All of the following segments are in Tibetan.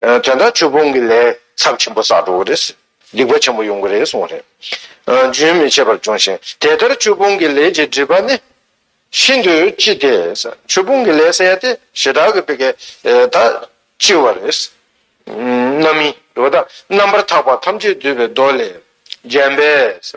དོན་དག་ཆོས་སྤོང་གི་ལས་ཚབས་ཆེན་པོ་བསགས་འགྲོ་གི་རེད། སྡིག་པ་ཆེན་པོ་ཡོང་གི་རེད་གསུངས་པ་རེད། རྒྱུན་མི་ཆད་པར་འབྱུང་ཞིང་དེ་ལྟར་ཆོས་སྤོང་གི་ལས་ཀྱི་སྒྲིབ་པ་ནི། ཤིན་ཏུ་ལྕི་སྟེ། ཆོས་སྤོང་གི་ལས་བསལ་ཏེ་ཞེ་དྲག་གི་དཔེ་གལ་ད་ལྕི་བ་རེད། རྣམ་སྨིན། རྣམ་པར་དག་པ་ཐམས་ཅད་འདུས་པའི་མདོ་ལས། བརྒྱན་པས།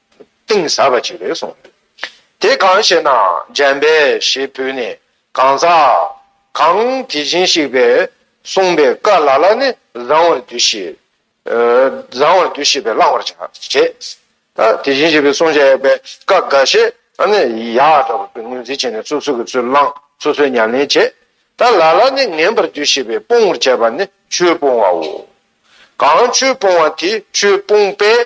གཏིང་ཟབ་པ་ཅིག་རེད་གསུངས་ཡོད། དེ་གང་ཞེ་ན་འཇམ་དཔལ་ཞེས་བོས་ནས་གང་ཟག་གང་དེ་བཞིན་གཤེགས་པས་གསུངས་པའི་བཀའ་ལ་ལ་ནི་བཟང་བར་འདུ་ཤེས། བཟང་བར་འདུ་ཤེས་པས་བླང་བར་བྱ། དེ་བཞིན་གཤེགས་པའི་གསུང་བྱ་ཡས་པའི་བཀའ་འགའ་ཞིག་ནི་ཡག་འདྲ་བ་པོས་ངོས་འཛིན་བྱས་ནས་སོ་སོ་གི་ཚུལ་བླང་སོ་སོའི་ཉམས་ལེན་བྱེད། ད་ལ་ལ་ནི་ངན་པར་འདུ་ཤེས་པས་སྤོང་བར་བྱ་བ་ནི་ཆོས་སྤོང་བའོ། གང་ཆོས་སྤོང་བ་དེ་ཆོས་སྤོང་པས་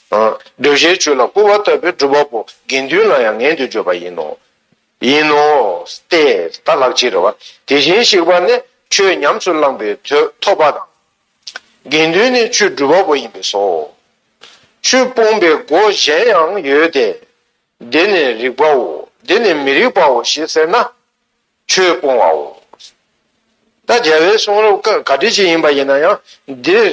གདུལ་བྱའི་བཅུད་ལ་བསྐུར་བ་ལྟ་བུའི་སྒྲུབ་པ་པོ་དགེ་འདུན་ལ་ཡང་ངན་དུ་བརྗོད་པ་ཡིན་ནོ། ཡིན་ནོ། སྟེ། ད་ལགས་ཅི་རེ་བ། དེ་བཞིན་གཤེགས་པ་ནི་ཆོས་ཉམས་སུ་བླངས་པའི་དོད་ཐོབ་པ་དང། དགེ་འདུན་ནི་ཆོས་སྒྲུབ་པ་པོ་ཡིན་པས་སོ། ཆོས་སྤོང་པའི་སྒོ་གཞན་ཡང་ཡོད་དེ། འདི་ནི་རིགས་པའོ་འདི་ནི་མི་རིགས་པའོ་ཞེས་ཟེར་ན། ཆོས་སྤོང་བའོ། ད་རྒྱལ་བའི་གསུང་རབ་ཀ་ག་དུས་ཅིག་ཡིན་པ་ཡིན་ན་ཡང་འདིར་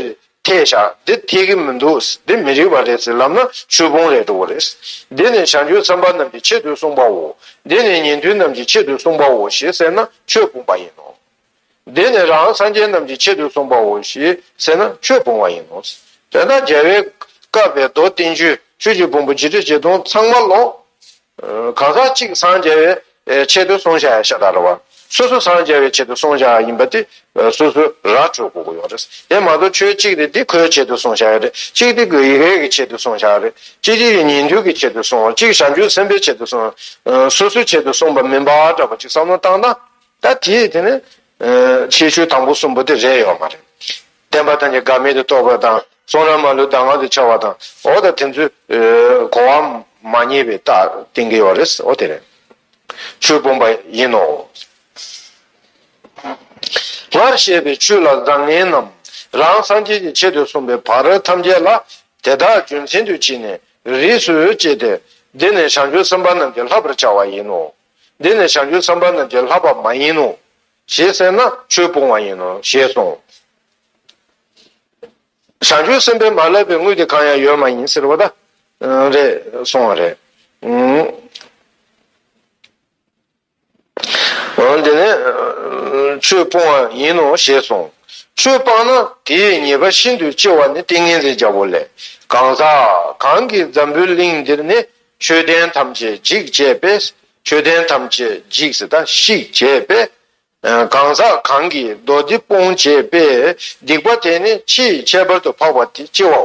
ཐལ་བཞག་འདི་ཐལ་གྱི་མི་འདུག་འདི་མི་རིགས་པ་རེད་ཟེར་ལབ་ན་ཆོས་སྤོང་ལས་འགྲོ་བ་རེད། འདི་ནི་བྱང་ཆུབ་སེམས་དཔའ་རྣམས་ཀྱི་ཆེད་དུ་གསུངས་པའོ། འདི་ནི་ཉན་ཐོས་རྣམས་ཀྱི་ཆེད་དུ་གསུངས་པའོ་ཞེས་ཟེར་ན་ཆོས་སྤོང་པ་ཡིན་ནོ། འདི་ནི་རང་སངས་རྒྱས་རྣམས་ཀྱི་ཆེད་དུ་གསུངས་པའོ་ཞེས་ཟེར་ན་ཆོས་སྤོང་བ་ཡིན་ནོ། དེ་དག་རྒྱལ་བའི་བཀའ་བས་རྡོ་བསྟན་བཅུའི་ཆོས་ཀྱི་བུམ་པ་བཞི་ཁྲི་ཆིག་སྟོང་ཚང་མ་ལོངས། གང་ཟག་གཅིག་སངས་རྒྱས་པའི་ཆེད་དུ་གསུངས་བྱ་ཡང་ཤ་སྟག་རེད་བ། སོ་སོ་སངས་རྒྱས་པའི་ཆེད་དུ་གསུངས་བྱ་བ་ཡིན་པ་དེ་སོ་སོའི་ར་སྤྲོད་གོ་གོ་ཡོང་རེད། དེ་མ་གཏོགས་ཆོས་གཅིག་དེ་འདི་ཁོའི་ཆེད་དུ་གསུངས་བྱ་ཡ་རེད། གཅིག་དེ་གོའི་ཡི་གེའི་ཆེད་དུ་གསུངས་བྱ་བ་རེད། གཅིག་དེ་ཡི་ཉིན་ཐུན་གྱི་ཆེད་དུ་གསུངས། གཅིག་བྱང་ཆུབ་སེམས་དཔའི་ཆེད་དུ་གསུངས། སོ་སོའི་ཆེད་དུ་གསུངས་པ་མིན་པ་འདྲ་པོ་གཅིག་བསམ་བློ་བཏང་ན། ད་དེས་དེ་ནི། ཆེ་ཤོས་དང་པོ་གསུམ་པོ་དེ་རེད་ཡོད་མ་རེད། བདེན་པ་དང་ནི་འགག་མེད་དུ་རྟོགས་པ་དང་གསུང་ར་མ་ལུས་གདམས་ངག་ཏུ་འཆར་བ་དང་འོ་ད་དེ་ཚོས་གོ་བ་མ་རྙེད་པའི་རྟགས་བསྟན་གྱི་ཡོད་རེད་འོ་དེ་རེད། ཆོས་སྤོང་པ་ཡིན་ནོ། སྔར་བཤད་པའི་ཆོས་ལ་བཟང་ངན་རྣམས་རང་སངས་རྒྱས་ཀྱི་ཆེད་དུ་གསུངས་པའི་བར་ཐམས་ཅད་ལ་དེ་དག་རྒྱུ་མཚན་དུ་བྱས་ནས་རིས་སུ་བཅད་དེ་འདི་ནི་བྱང་ཆུབ་སེམས་དཔའ་རྣམས་ཀྱི་ལྷ་བར་བྱ་བ་ཡིན་ནོ། འདི་ནི་བྱང་ཆུབ་སེམས་དཔའ་རྣམས་ཀྱི་ལྷག་པ་མ་ཡིན་ནོ། ཞེས་སེར་སྣ་ཆོས་སྤོང་བ་ཡིན་ནོ་ཞེས་གསུངས། བྱང་ཆུབ་སེམས་དཔའི་མ་བསླབ་པའི་དངུལ་དེ་གང་ཡང་ཡོད་མ་ཡིན་ཟེར་བ་དང། རེད་གསུངས་བ་རེད། འདི་ནི་ཆོས་སྤོང་བ་ཡིན་ནོ་ཞེས་གསུངས། ཆོས་སྤངས་ན་དེའི་ཉེས་པ་ཤིན་ཏུ་ལྕི་བ་ནི་ཏིང་ངེ་འཛིན་བརྒྱ་པོ་ལས། གང་ཟག་གང་གིས་འཛམ་བུའི་གླིང་འདིར་ནི། ཆོས་ལྡན་ཐམས་ཅད་འཇིག་ཅེས་པས་ཆོས་ལྡན་ཐམས་ཅད་འཇིག་ཟེར་དང་ཤིག་ཅེས་པས་གང་ཟག་གང་གིས་མདོ་འདི་སྤོང་ཅེས་པས་སྡིག་པ་དེ་ནི་ཕྱིས་ཁྱད་པར་དུ་འཕགས་པ་དེ་ལྕི་བའོ།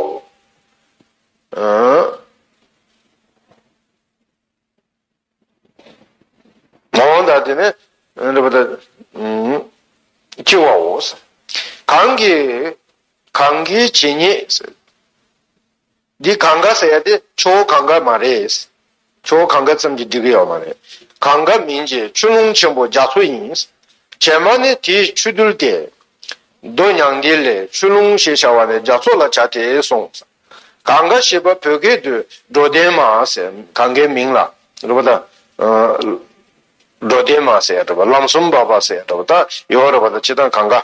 འོན་ཏང་དེ་ནི་འདི་པ་དང་ལྕི་བའོ། གང་གིས་གང་གིས་ཇི་སྙེད། འདི་གང་གཱ་ཟེར་ཡ་དེ་ཆུ་བོ་གང་གཱ་མ་རེད། ཆུ་བོ་གང་གཱ་ཙམ་གྱིས་འགྲིག་གི་ཡོད་མ་རེད། གང་གཱ་མིན་གྱི་ཆུ་ཀླུང་ཆེན་པོ་རྒྱ་མཚོ་ཡིན། བྱེ་མ་ནི་དེའི་ཆུ་རྡུལ་ཏེ། རྡོ་མྱང་འདི་ལས་ཆུ་ཀླུང་ཞེས་བྱ་བ་ནི་རྒྱ་མཚོ་ལ་བྱ་སྟེ་གསུངས། གང་གཱ་ཞེས་པ་བོད་སྐད་དུ་སྒྲོ་ལྡན་མ་ཟེར་གང་གཱའི་མིང་ལ། རེད་པ་དང། སྒྲོ་ལྡན་མ་ཟེར་རེད་པ་ལམ་གསུམ་འབབ་པ་ཟེར་རེད་པ་དང་ཡོད་རེད་པ་དང་སྤྱི་དང་གང་གཱ།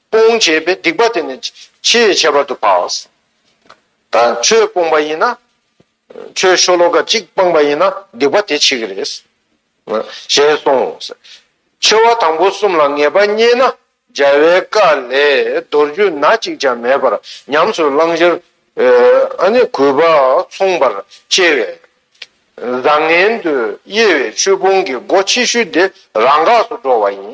སྤོང་བྱེད་པའི་སྡིག་པ་དེ་ནི་ཕྱི་ཡི་ཁྱད་པར་དུ་བག། ད་ཁྱོད་སྤོང་པ་ཡིན་ན། ཁྱོད་ཤོ་ལོ་ཀ་གཅིག་སྤངས་པ་ཡིན་ན་སྡིག་པ་དེ་འཆི་གི་རེད། ཞེས་གསུངས། འཆི་བ་དང་པོ་གསུམ་ལ་ངེས་པ་རྙེད་ན་འཇའ་བའི་སྐ་ལས་རྡོ་རྒྱུས་ན་གཅིག་ཀྱང་མེད་པར་ཉམས་སུ་བླང་ཕྱིར། གུས་པ་མཚུངས་པར་སྐྱེ་བས། བཟང་ངན་དུ་དབྱེ་བའི་ཆོས་སྤོང་གི་སྒོ་ཕྱི་ཤུལ་དེ་རང་འགགས་སུ་འགྲོ་བ་ཡིན།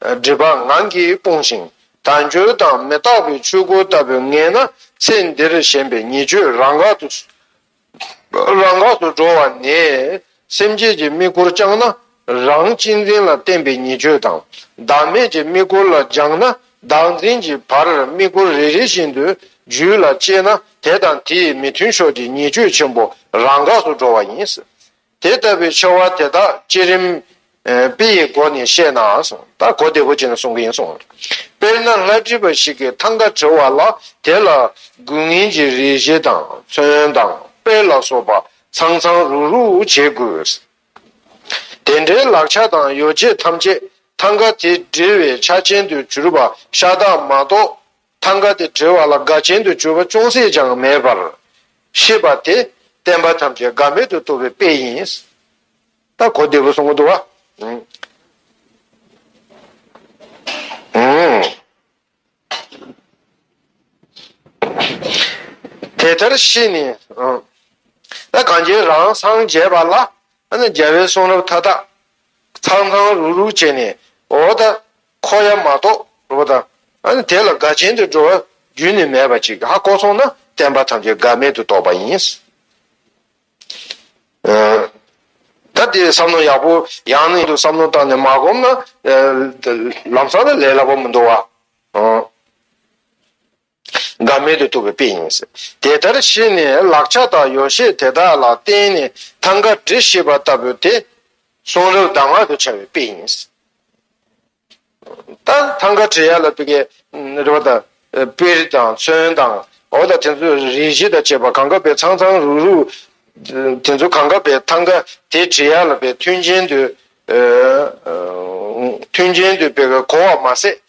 འདྲེས་པ་ངང་གིས་སྤོང་ཞིང་དལ་འབྱོར་དང་མི་རྟག་པའི་ཆོས་སྐུ་ལྟ་བུར་ངེས་ན་ཚེ་འདིར་ཞེན་པའི་ཉེས་སྤྱོད་རང་འགག་ཏུ་འགྲོ་བ་ནས་སེམས་བསྐྱེད་ཀྱི་དམིགས་སྐོར་བསྐྱངས་ན་རང་གཅེས་འཛིན་ལ་བརྟེན་པའི་ཉེས་སྤྱོད་དང་བདག་མེད་ཀྱི་དམིགས་སྐོར་ལ་སྦྱངས་ན་བདག་འཛིན་གྱི་བར་དམིགས་སྐོར་རེ་རེ་བཞིན་དུ་རྒྱུད་ལ་སྐྱེས་ན་དེ་དང་དེའི་མི་མཐུན་ཕྱོགས་ཀྱི་ཉེས་སྤྱོད་ཆེན་པོ་རང་འགག་ཏུ་འགྲོ་བ་ཡིན། དེ་ལྟ་བུའི་ཆེ་བ་དེ་དག་བསྐྱེད་རིམ། དཔེ་ཡི་སྒོ་ནས་བཤད་ནའང་གསུང། ད་གོ་བདེ་པོ་བྱས་ནས་གསུང་གི་ཡིན་གསུང། དཔེར་ན་ལྷ་བྲིས་པ་ཞིག་གིས་ཐང་ག་བྲི་བ་ལ་དེ་ལ་དགུན་ངན་གྱི་རེས་གཞི་དང་ཚོན་དང་དཔེ་ལ་སོགས་པ་ཚང་ཚང་རུག་རུག་བྱེད་དགོས། དེ་འདྲའི་ལག་ཆ་དང་ཡོ་བྱད་ཐམས་ཅད་ཐང་ག་དེ་བྲི་བའི་ཆ་ཅན་དུ་གྱུར་པ་ཤ་སྟག་མ་གཏོགས། ཐང་ག་དེ་བྲི་བ་ལ་དགའ་ཆེན་དུ་གྱུར་པ་ཅུང་ཟད་ཀྱང་མེད་པར། ཤེས་པ་དེ་བསྟན་པ་ཐམས་ཅད་དགའ་མེད་དུ་བཏུབ་པའི་དཔེ་ཡིན། ད་གོ་བདེ་པོ་སོང་གི་འདུག་ཨང། དེ་ལྟར་ཤེས་ནས། ད་གངས་ཅན་རང་སངས་རྒྱས་པ་ལ། རྒྱལ་བའི་གསུང་རབ་མཐའ་དག། ཚང་ཚང་རུག་རུག་བྱས་ནས། འོ་ད། འཁོར་ཡང་མ་གཏོགས་འགྲོ་བ་དང། ཨ་དེ་ལ་དགའ་ཆེན་དུ་འགྲོ་བ་རྒྱུན་ནི་མེད་པ་ཅིག་ཧ་གོ་སོང་ན་བསྟན་པ་ཐམས་ཅད་དགའ་མེད་དུ་རྟོགས་པ་ཡིན། ད་དེ་བསམ་མནོ་ཡག་པོ་ཡང་ནི་དུ་བསམ་མནོ་བཏང་ནས་མ་བསྒོམ་ན། ལམ་སང་ལ་ལས་སླ་པོ་མི་འདུག་བ། འགའ་མེད་དུ་ཐུབ་པའི་དཔེ་ཡིན་སྲིད། དེ་ལྟར་བྱས་ནས་ལག་ཆ་དང་ཡོ་བྱད་དེ་དག་ལ་བརྟེན་ནས་ཐང་ག་འབྲི་ཤེས་པ་ལྟ་བུ་དེ་གསུང་རབ་གདམས་ངག་ཏུ་བྱ་བའི་དཔེ་ཡིན་སྲིད། ད་ཐང་ག་བྲི་ཡ་ལ་དཔེ་རིས་དང་དཔེར་དང་མཚོན་དང་འོ་དང་དེ་ཚོ་རིས་བཞི་དང་བཅས་པ་གང་ག་བའི་ཚང་ཚང་རུག་རུག་དེ་ཚོ་གང་ག་བའི་ཐང་ག་དེ་བྲི་ཡ་ལ་བའི་མཐུན་རྐྱེན་དུ་མཐུན་རྐྱེན་དུ་དཔེ་གོ་བ་མ་ཟད།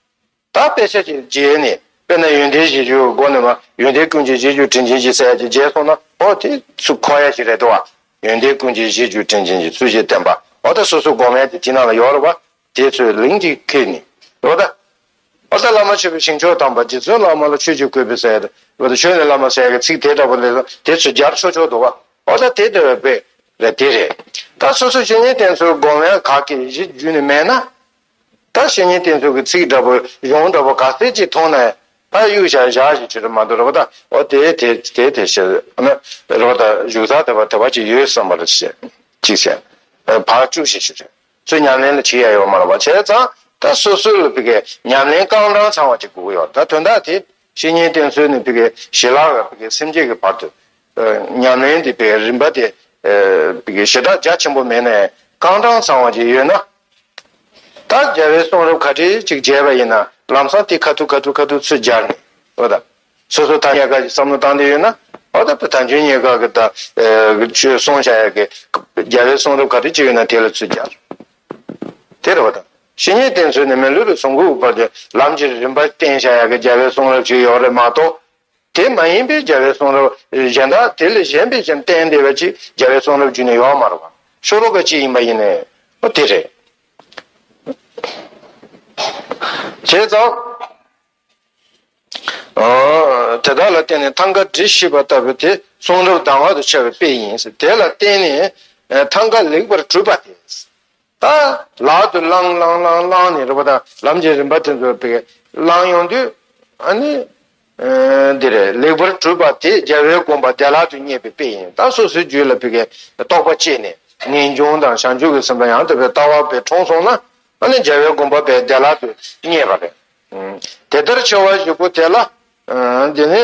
ད་དཔེ་ཆ་གཅིག་བརྗེས་ནས་དཔེར་ན་ཡོན་ཏན་བཞི་བཅུ་སྒོ་ནས་མ་ཡོན་ཏན་ཀུན་གྱི་བཞི་བཅུ་དྲིན་ཅན་གྱི་སྲས་ཀྱི་རྗེས་སོང་ན་ཨོ་དེ་སུ་ཁོ་ཡ་ཞིག་རེད་དོ། ཡོན་ཏན་ཀུན་གྱི་བཞི་བཅུ་དྲིན་ཅན་གྱི་ཚུལ་བཞིན་བསྟེན་པ་ཨོ་ད་སོ་སོའི་སྒོ་མེད་དེ་དེ་རྣམས་ལ་ཡོད་རོ་བ་དེ་ཚོས་ལིང་གཅིག་ཁེལ་ནས་ཨོ་ད། ཨོ་ད་བླ་མ་ཆོས་པའི་ཞིང་མཆོག་དམ་པ་རྗེ་བཙུན་བླ་མ་ལ་ཆོས་ཀྱི་སྐུད་པས་བསད་དོ་ཨོ་ད་ཆོས་ནི་བླ་མ་བསད་ཀྱི་ཚིག་དེ་འདྲ་པོ་ལས་སོང་དེ་ཚོས་རྒྱར་ཆོག་ཆོག་དུ་བ་ཨོ་ད་དེ་དེ་བས་དཔེ་རེད་དེ་རེད། ད་སོ་སོའི་བཤེས་གཉེན་བསྟེན་ཚུལ་སྒོ་མེད་ག་གེ་བཞི་བརྒྱུད་ནས་མེད་ན། ད་བཤེས་གཉེན་བསྟེན་ཚུལ་གྱི་ཚིག་འདྲ་པོ་ཡོངས་འདྲ་པོ་ག་ཚད་ཅིག་མཐོང་ནའི། ད་གཡུག་ཞག་བཞག་ཞིག་བྱེད་དུ་མ་འདུག་རེ་བ་ད། འོ་དེ་དེ་དེ་དེ་ཞེས་ན། རེ་བ་ད་བཞུགས་ཚར་དེ་བ་དེ་བ་ཅིག་ཡོད་བསམ་པར་བྱེད་ཅིག་བྱས། བར་བཅུག་བྱས་ཞིག་བྱས། ཚུལ་ཉམས་ལེན་ལ་བྱེད་ཡ་ཡོད་མ་ལ་བ་བྱས་ཙང་ད་སོ་སོའི་ལ་བི་ཀའི་ཉམས་ལེན་རྐང་གྲངས་ཚང་བ་ཅིག་སྒུག་ཡོད་ད་དོན་དག་དེ་བཤེས་གཉེན་བསྟེན་ཚུལ་ནི་བི་ཀའི་ཞེ་ལག་ག་བི་ཀའི་སེམས་བསྐྱེད་ཀྱི་བར་དུ། ཉམས་ལེན་དེ་བི་ཀའི་རིམ་པ་དེ། བི་ཀའི་ཞེ་དྲག་རྒྱ་ཆེན་པོ་མེད་ནའི་རྐང་གྲངས་ཚང་བ་ཅིག་ཡོད་ན། ད་རྒྱལ་བའི་གསུང་རབ་ཁ་བྲལ་ཅིག་མཇལ་བ་ཡིན་ན་ལམ་སང་དེ་ཁ་ཐུག་ཁ་ཐུག་ཁ་ཐུག་ཚུལ་སྦྱར་ནས། ཨོ་ད། སོ་སོ་ཐ་སྙད་འགའ་ཞིག་བསམ་བློ་བཏང་འདོད་ཡོད་ན། ཨོ་ད་ད་འཇོན་ཉེས་དགག་གི་ད་ཆོས་གསུང་བྱ་ཡག་གི། རྒྱལ་བའི་གསུང་རབ་ཁ་བྲལ་ཅིག་ཡོད་ན་དེ་ལ་ཚུལ་སྦྱར། དེར་ཨོ་ད། བཤེས་གཉེན་བསྟེན་ཚུལ་ནི་མི་ལུས་པའི་ཟུངས་ཁུག་བར་དུ་ལམ་གྱི་རིམ་པ་བསྟེན་བྱ་ཡག་གི་རྒྱལ་བའི་གསུང་རབ་ཞིག་ཡོག་རེད་མ་གཏོགས། དེ་མ་ཡིན་པའི་རྒྱལ་བའི་གསུང་རབ་གཞན་དག་དེ་ལས་གཞན་པའི་བཅོམ་ལྡན་འདས་པ་ཅིག་རྒྱལ་བའི་གསུང་རབ་བརྒྱུད་ནས་ཡོད་མ་རུང་བར་ཤོ་ལོ་ཀ་གཅིག་ཡིན་པ་ཡིན་ནོ། དེ་རེད། བྱས་ཙང། དེ་དག་ལ་བརྟེན་ནས་ཐང་ག་འབྲི་ཤེས་པ་ལྟ་བུ་དེ་གསུང་རབ་བདག་བར་དུ་འཆར་བའི་དཔེ་ཡིན། དེ་ལ་བརྟེན་ནས་ཐང་ག་ལེགས་པར་གྲུབ་པ་དེ། དང། ལག་ཏུ་བླང་བླང་བླང་བླང་ནས་རེ་བ་དང་ལམ་གྱི་རིམ་པ་དེ་ཚོ་དཔེ་བླང་ཡོང་དུས། ཨ་ནི། འདི་རེད་ལེགས་པར་གྲུབ་པ་དེ་རྒྱལ་བའི་དགོངས་པ་བདེ་བླག་ཏུ་རྙེད་པའི་དཔེ་ཡིན་ད་སོ་སོའི་རྒྱུད་ལ་དཔེ་རྟོགས་པ་བསྐྱེད་ནས་ངེས་འབྱུང་དང་བྱང་ཆུབ་ཀྱི་སེམས་པ་ཡང་དག་པའི་ལྟ་བ་བས་དྲོངས་སོང་ན་ཨ་ནི་རྒྱལ་བའི་དགོངས་པ་བས་བདེ་བླག་ཏུ་རྙེད་པ་རེད། དེ་ལྟར་ཆེ་བ་བཞི་པོ་དེ་ལ། འདི་ནི།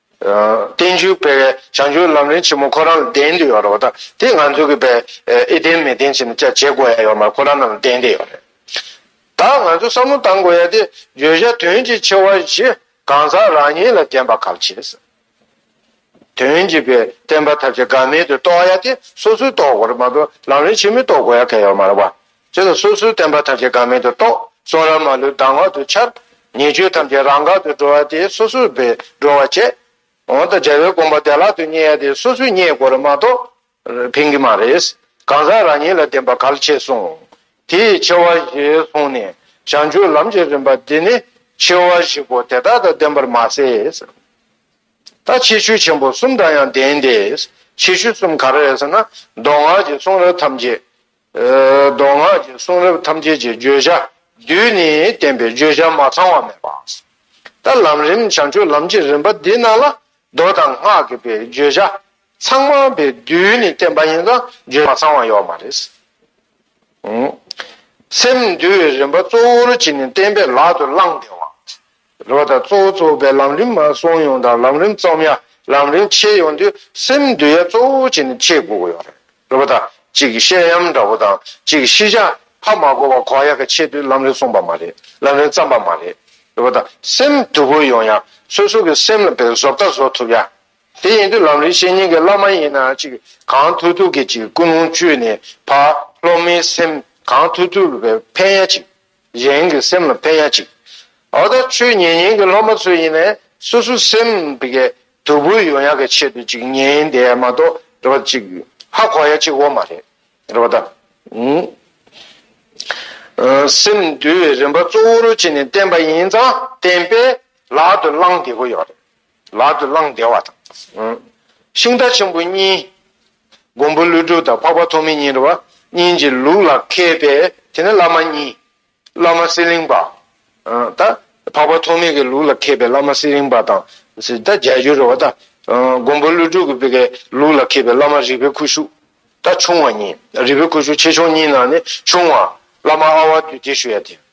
བསྟན་བཅོས་སྤེལ་བའི་བྱང་ཆུབ་ལམ་རིན་ཆེན་མོ་ཁོ་རང་ལ་ལྡན་དུ་ཡོད་རེད་བ་དང་དེ་ང་ཚོ་གི་བས་ཨེ་ལྡན་མི་ལྡན་བྱས་ན་ཅག་བྱེད་དགོས་ཡ་ཡོད་མ་ཁོ་རང་རྣམས་ལ་ལྡན་དེ་ཡོད་རེད་ད་ང་ཚོ་བསམ་བློ་བཏང་དགོས་ཡ་དེ་བརྗོད་བྱ་དོན་གྱི་ཆེ་བ་བཞི་གང་ཟག་རང་ཉིད་ལ་ལྡན་པ་གབ་བྱེད་ཟེར། དོན་གྱི་བས་བསྟན་པ་ཐབས་ཀྱི་དགའ་མེད་དུ་རྟོགས་ཡ་དེ་སོ་སོས་རྟོགས་དགོས་རེད་མ་གཏོགས་ལམ་རིན་ཆེན་མོས་རྟོགས་དགོས་ཡ་གལ་ཡོད་མ་རེད་བ། ཅེས་སོ་སོའི་བསྟན་པ་ཐམས་ཅད་འགག་མེད་དུ་རྟོགས། གསུང་རབ་མ་ལུས་གདམས་ངག་ཏུ་འཆར། ཉེས་སྤྱོད་ཐམས་ཅད་རང་འགག་ཏུ་འགྲོ་བ་དེ་སོ་སོར་སྦས་སྒྲོལ་བར་བྱེད། འོན་ཏེ་རྒྱལ་བའི་དགོངས་པ་བདེ་བླག་ཏུ་རྙེད་ཡ་དེ་སོ་སོའི་རྙེད་དགོས་རེ་མ་གཏོགས། ཕན་གྱི་མ་རེད། གང་ཟག་རང་ཉིད་ལ་བདེན་པ་གལ་ཆེ་གསུངས། དེ་ཡི་ཆེ་བ་བཞི་གསུངས་ནས་བྱང་ཆུབ་ལམ་གྱི་རིམ་པ་འདི་ནི་ཆེ་བ་བཞི་པོ་དེ་དག་དང་ལྡན་པར་མ་ཟད། ད་ཕྱིས་ཆོས་ཆེན་པོ་གསུམ་དང་ཡང་ལྡན་ཏེ། ཕྱིས་ཆོས་གསུམ་ག་རེ་ཟེར་ན་མདོ་སྔགས་ཀྱི་གསུང་རབ་ཐམས་ཅད། མདོ་སྔགས་ཀྱི་གསུང་རབ་ཐམས་ཅད་ཀྱི་བརྗོད་བྱ་བདུན་ནི་བསྟན་པའི་བརྗོད་བྱ་མ་ཚང་བ་མེད་པ། ད་ལམ་རིམ་བྱང་ཆུབ་ལམ་གྱི་རིམ་པ་འདི་རྣམས་ལ་མདོ་དང་སྔགས་ཀྱི་པའི་བརྗོད་བྱ་ཚང་མ་པའི་བདུན་ནི་བསྟན་པ་ཡིན་ཙང་བརྗོད་བྱ་མ་ཚང་བ་ཡོད་མ་རེད། སེམས་འདུལ་བའི་རིམ་པ་གཙོ་བོར་གྱིས་ནི་བསྟན་པའི་ལག་ཏུ་བླངས་ཏེ་བ། རོ་དང་གཙོ་བོ་གཙོ་བོ་པའི་ལམ་རིམ་སོང་ཡོང་དང་ལམ་རིམ་རྩོམ་ཡ་ལམ་རིམ་ཕྱེ་ཡོང་དུས་སེམས་འདུལ་ཡ་གཙོ་བོ་བྱེད་ནི་ཁྱེད་གོ་གོ་ཡོང་རེད་རོ་པ་དང་གཅིག་བཤད་ཡམ་འདྲ་བོ་དང་གཅིག་ཤི་བྱ་ཕ་མ་གོ་བ་གོ་ཡ་ག་ཕྱེ་དུས་ལམ་རིམ་སོང་པ་མ་རེད་ལམ་རིམ་རྩམ་པ་མ་རེད་རོ་པ་དང་སེམས་འདུལ་བོ་ཡོང་ཡ་སོ་སོ་གི་སེམས་ལ་བེད་བཟོ་བལྟ་བཟོ་ཐུབ་ཡ་དེ་ཡིན་དུས་ལམ་རིམ་བཤད་ཉན་གི་བླ་མ་ཡིན་ན་གཅིག་གང་ཐུག་ཐུག་གི་གཅིག་ཀུན་སློང་བཅུད་ནས་ཕ་སློབ་མའི་སེམས་གང་ཐུག་ཐུག་ཕན་ཡ་གཅིག་གཞན་གྱི་སེམས་ལ་ཕན་ཡ་གཅིག། ཨོ་ད་ཆོས་ཉན་ཉན་གྱི་སློབ་མ་ཚོ་ཡིན་ནས་སོ་སོའི་སེམས་དེ་གའི་དུ་བུ་ཡོང་ཡ་གི་ཆེད་དུ་ཅིག་ཉན་ཡིན་དེ་མ་གཏོགས་རེ་བ་གཅིག་ཧ་གོ་ཡ་གཅིག་འོ་མ་རེད་རེ་བ་ད། སེམས་འདུལ་བའི་རིམ་པ་གཙོ་བོ་རུ་བྱས་ནས་བསྟན་པ་ཡིན་ཙང་བསྟན་པས་ལག་ཏུ་བླང་བདེ་བོ་ཡོད་རེད། ལག་ཏུ་བླང་བདེ་བ་དང། ཤིང་རྟ་ཆེན་པོ་གཉིས། མགོན་པོ་ཀླུ་སྒྲུབ་དང་འཕགས་པ་ཐོགས་མེད་གཉིས་འདྲ་བ་གཉིས་ཀྱི་ལུགས་ལ་མཁས་པས་དེ་ནི་བླ་མ་གཉིས། བླ་མ་གསེར་གླིང་པ། ད། འཕགས་པ་ཐོགས་མེད་ཀྱི་ལུགས་ལ་མཁས་པའི་བླ་མ་གསེར་གླིང་པ་དང། ད་རྒྱལ་རྒྱུ་རེད་བ་ད། མགོན་པོ་ཀླུ་སྒྲུབ་ཀྱི་པའི་ལུགས་ལ་མཁས་པའི་བླ་མ་རིག་པའི་ཁུ་བྱུག། ད་ཆུང་བ་གཉིས། རིག་པའི་ཁུ་བྱུག་ཆེ་ཆུང་གཉིས་ནང་ནས་ཆུང་བ། བླ་མ་ཨ་བ་བདུད་སྡེ་ཞུ་ཡ་དེ།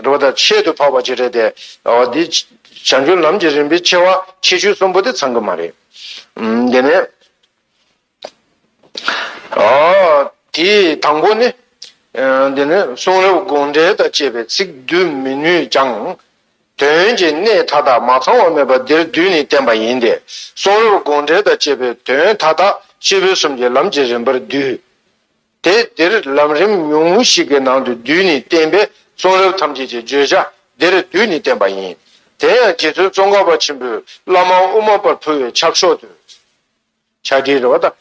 འགྲོ་བ་དང་ཆེད་དུ་འཕགས་པ་ཅི་རེད་དེ། འདི་བྱང་ཆུབ་ལམ་གྱི་རིམ་པའི་ཆེ་བ་ཆེ་ཆུང་གསུམ་པོ་དེ་ཚང་གི་མ་རེད། དེ་ནས། དེའི་དང་པོ་ནི། འདི་ནི་གསུང་རབ་དགོངས་འགྲེལ་དང་བཅས་པའི་ཚིག་བསྡུ་མི་ནུས་ཀྱང། དོན་གྱི་གནད་མཐའ་དག་མ་ཚང་བ་མེད་པ་འདིར་བསྡུས་ནས་བསྟན་པ་ཡིན་ཏེ། གསུང་རབ་དགོངས་འགྲེལ་དང་བཅས་པའི་དོན་མཐའ་དག་སྤྱི་ཕུན་སུམ་གྱི་ལམ་གྱི་རིམ་པར་བསྡུས། དེ་འདིར་ལམ་རིམ་ཉུང་ངུ་ཞིག་གི་ནང་དུ་རྡུལ་ནི་བསྟན་པས་གསུང་རབ་ཐམས་ཅད་ཀྱི་བརྗོད་བྱ་འདིར་རྡུལ་ནི་བསྟན་པ་ཡིན། དེ་ཡང་རྗེ་བཙུན་ཙོང་ཁ་པ་ཆེན་པོས་བླ་མ་དབུ་མ་པར་ཕུལ་བའི་ཕྱག་ཤོག་ཏུ། ཕྱག་བྲིས་རེད་བ་ད།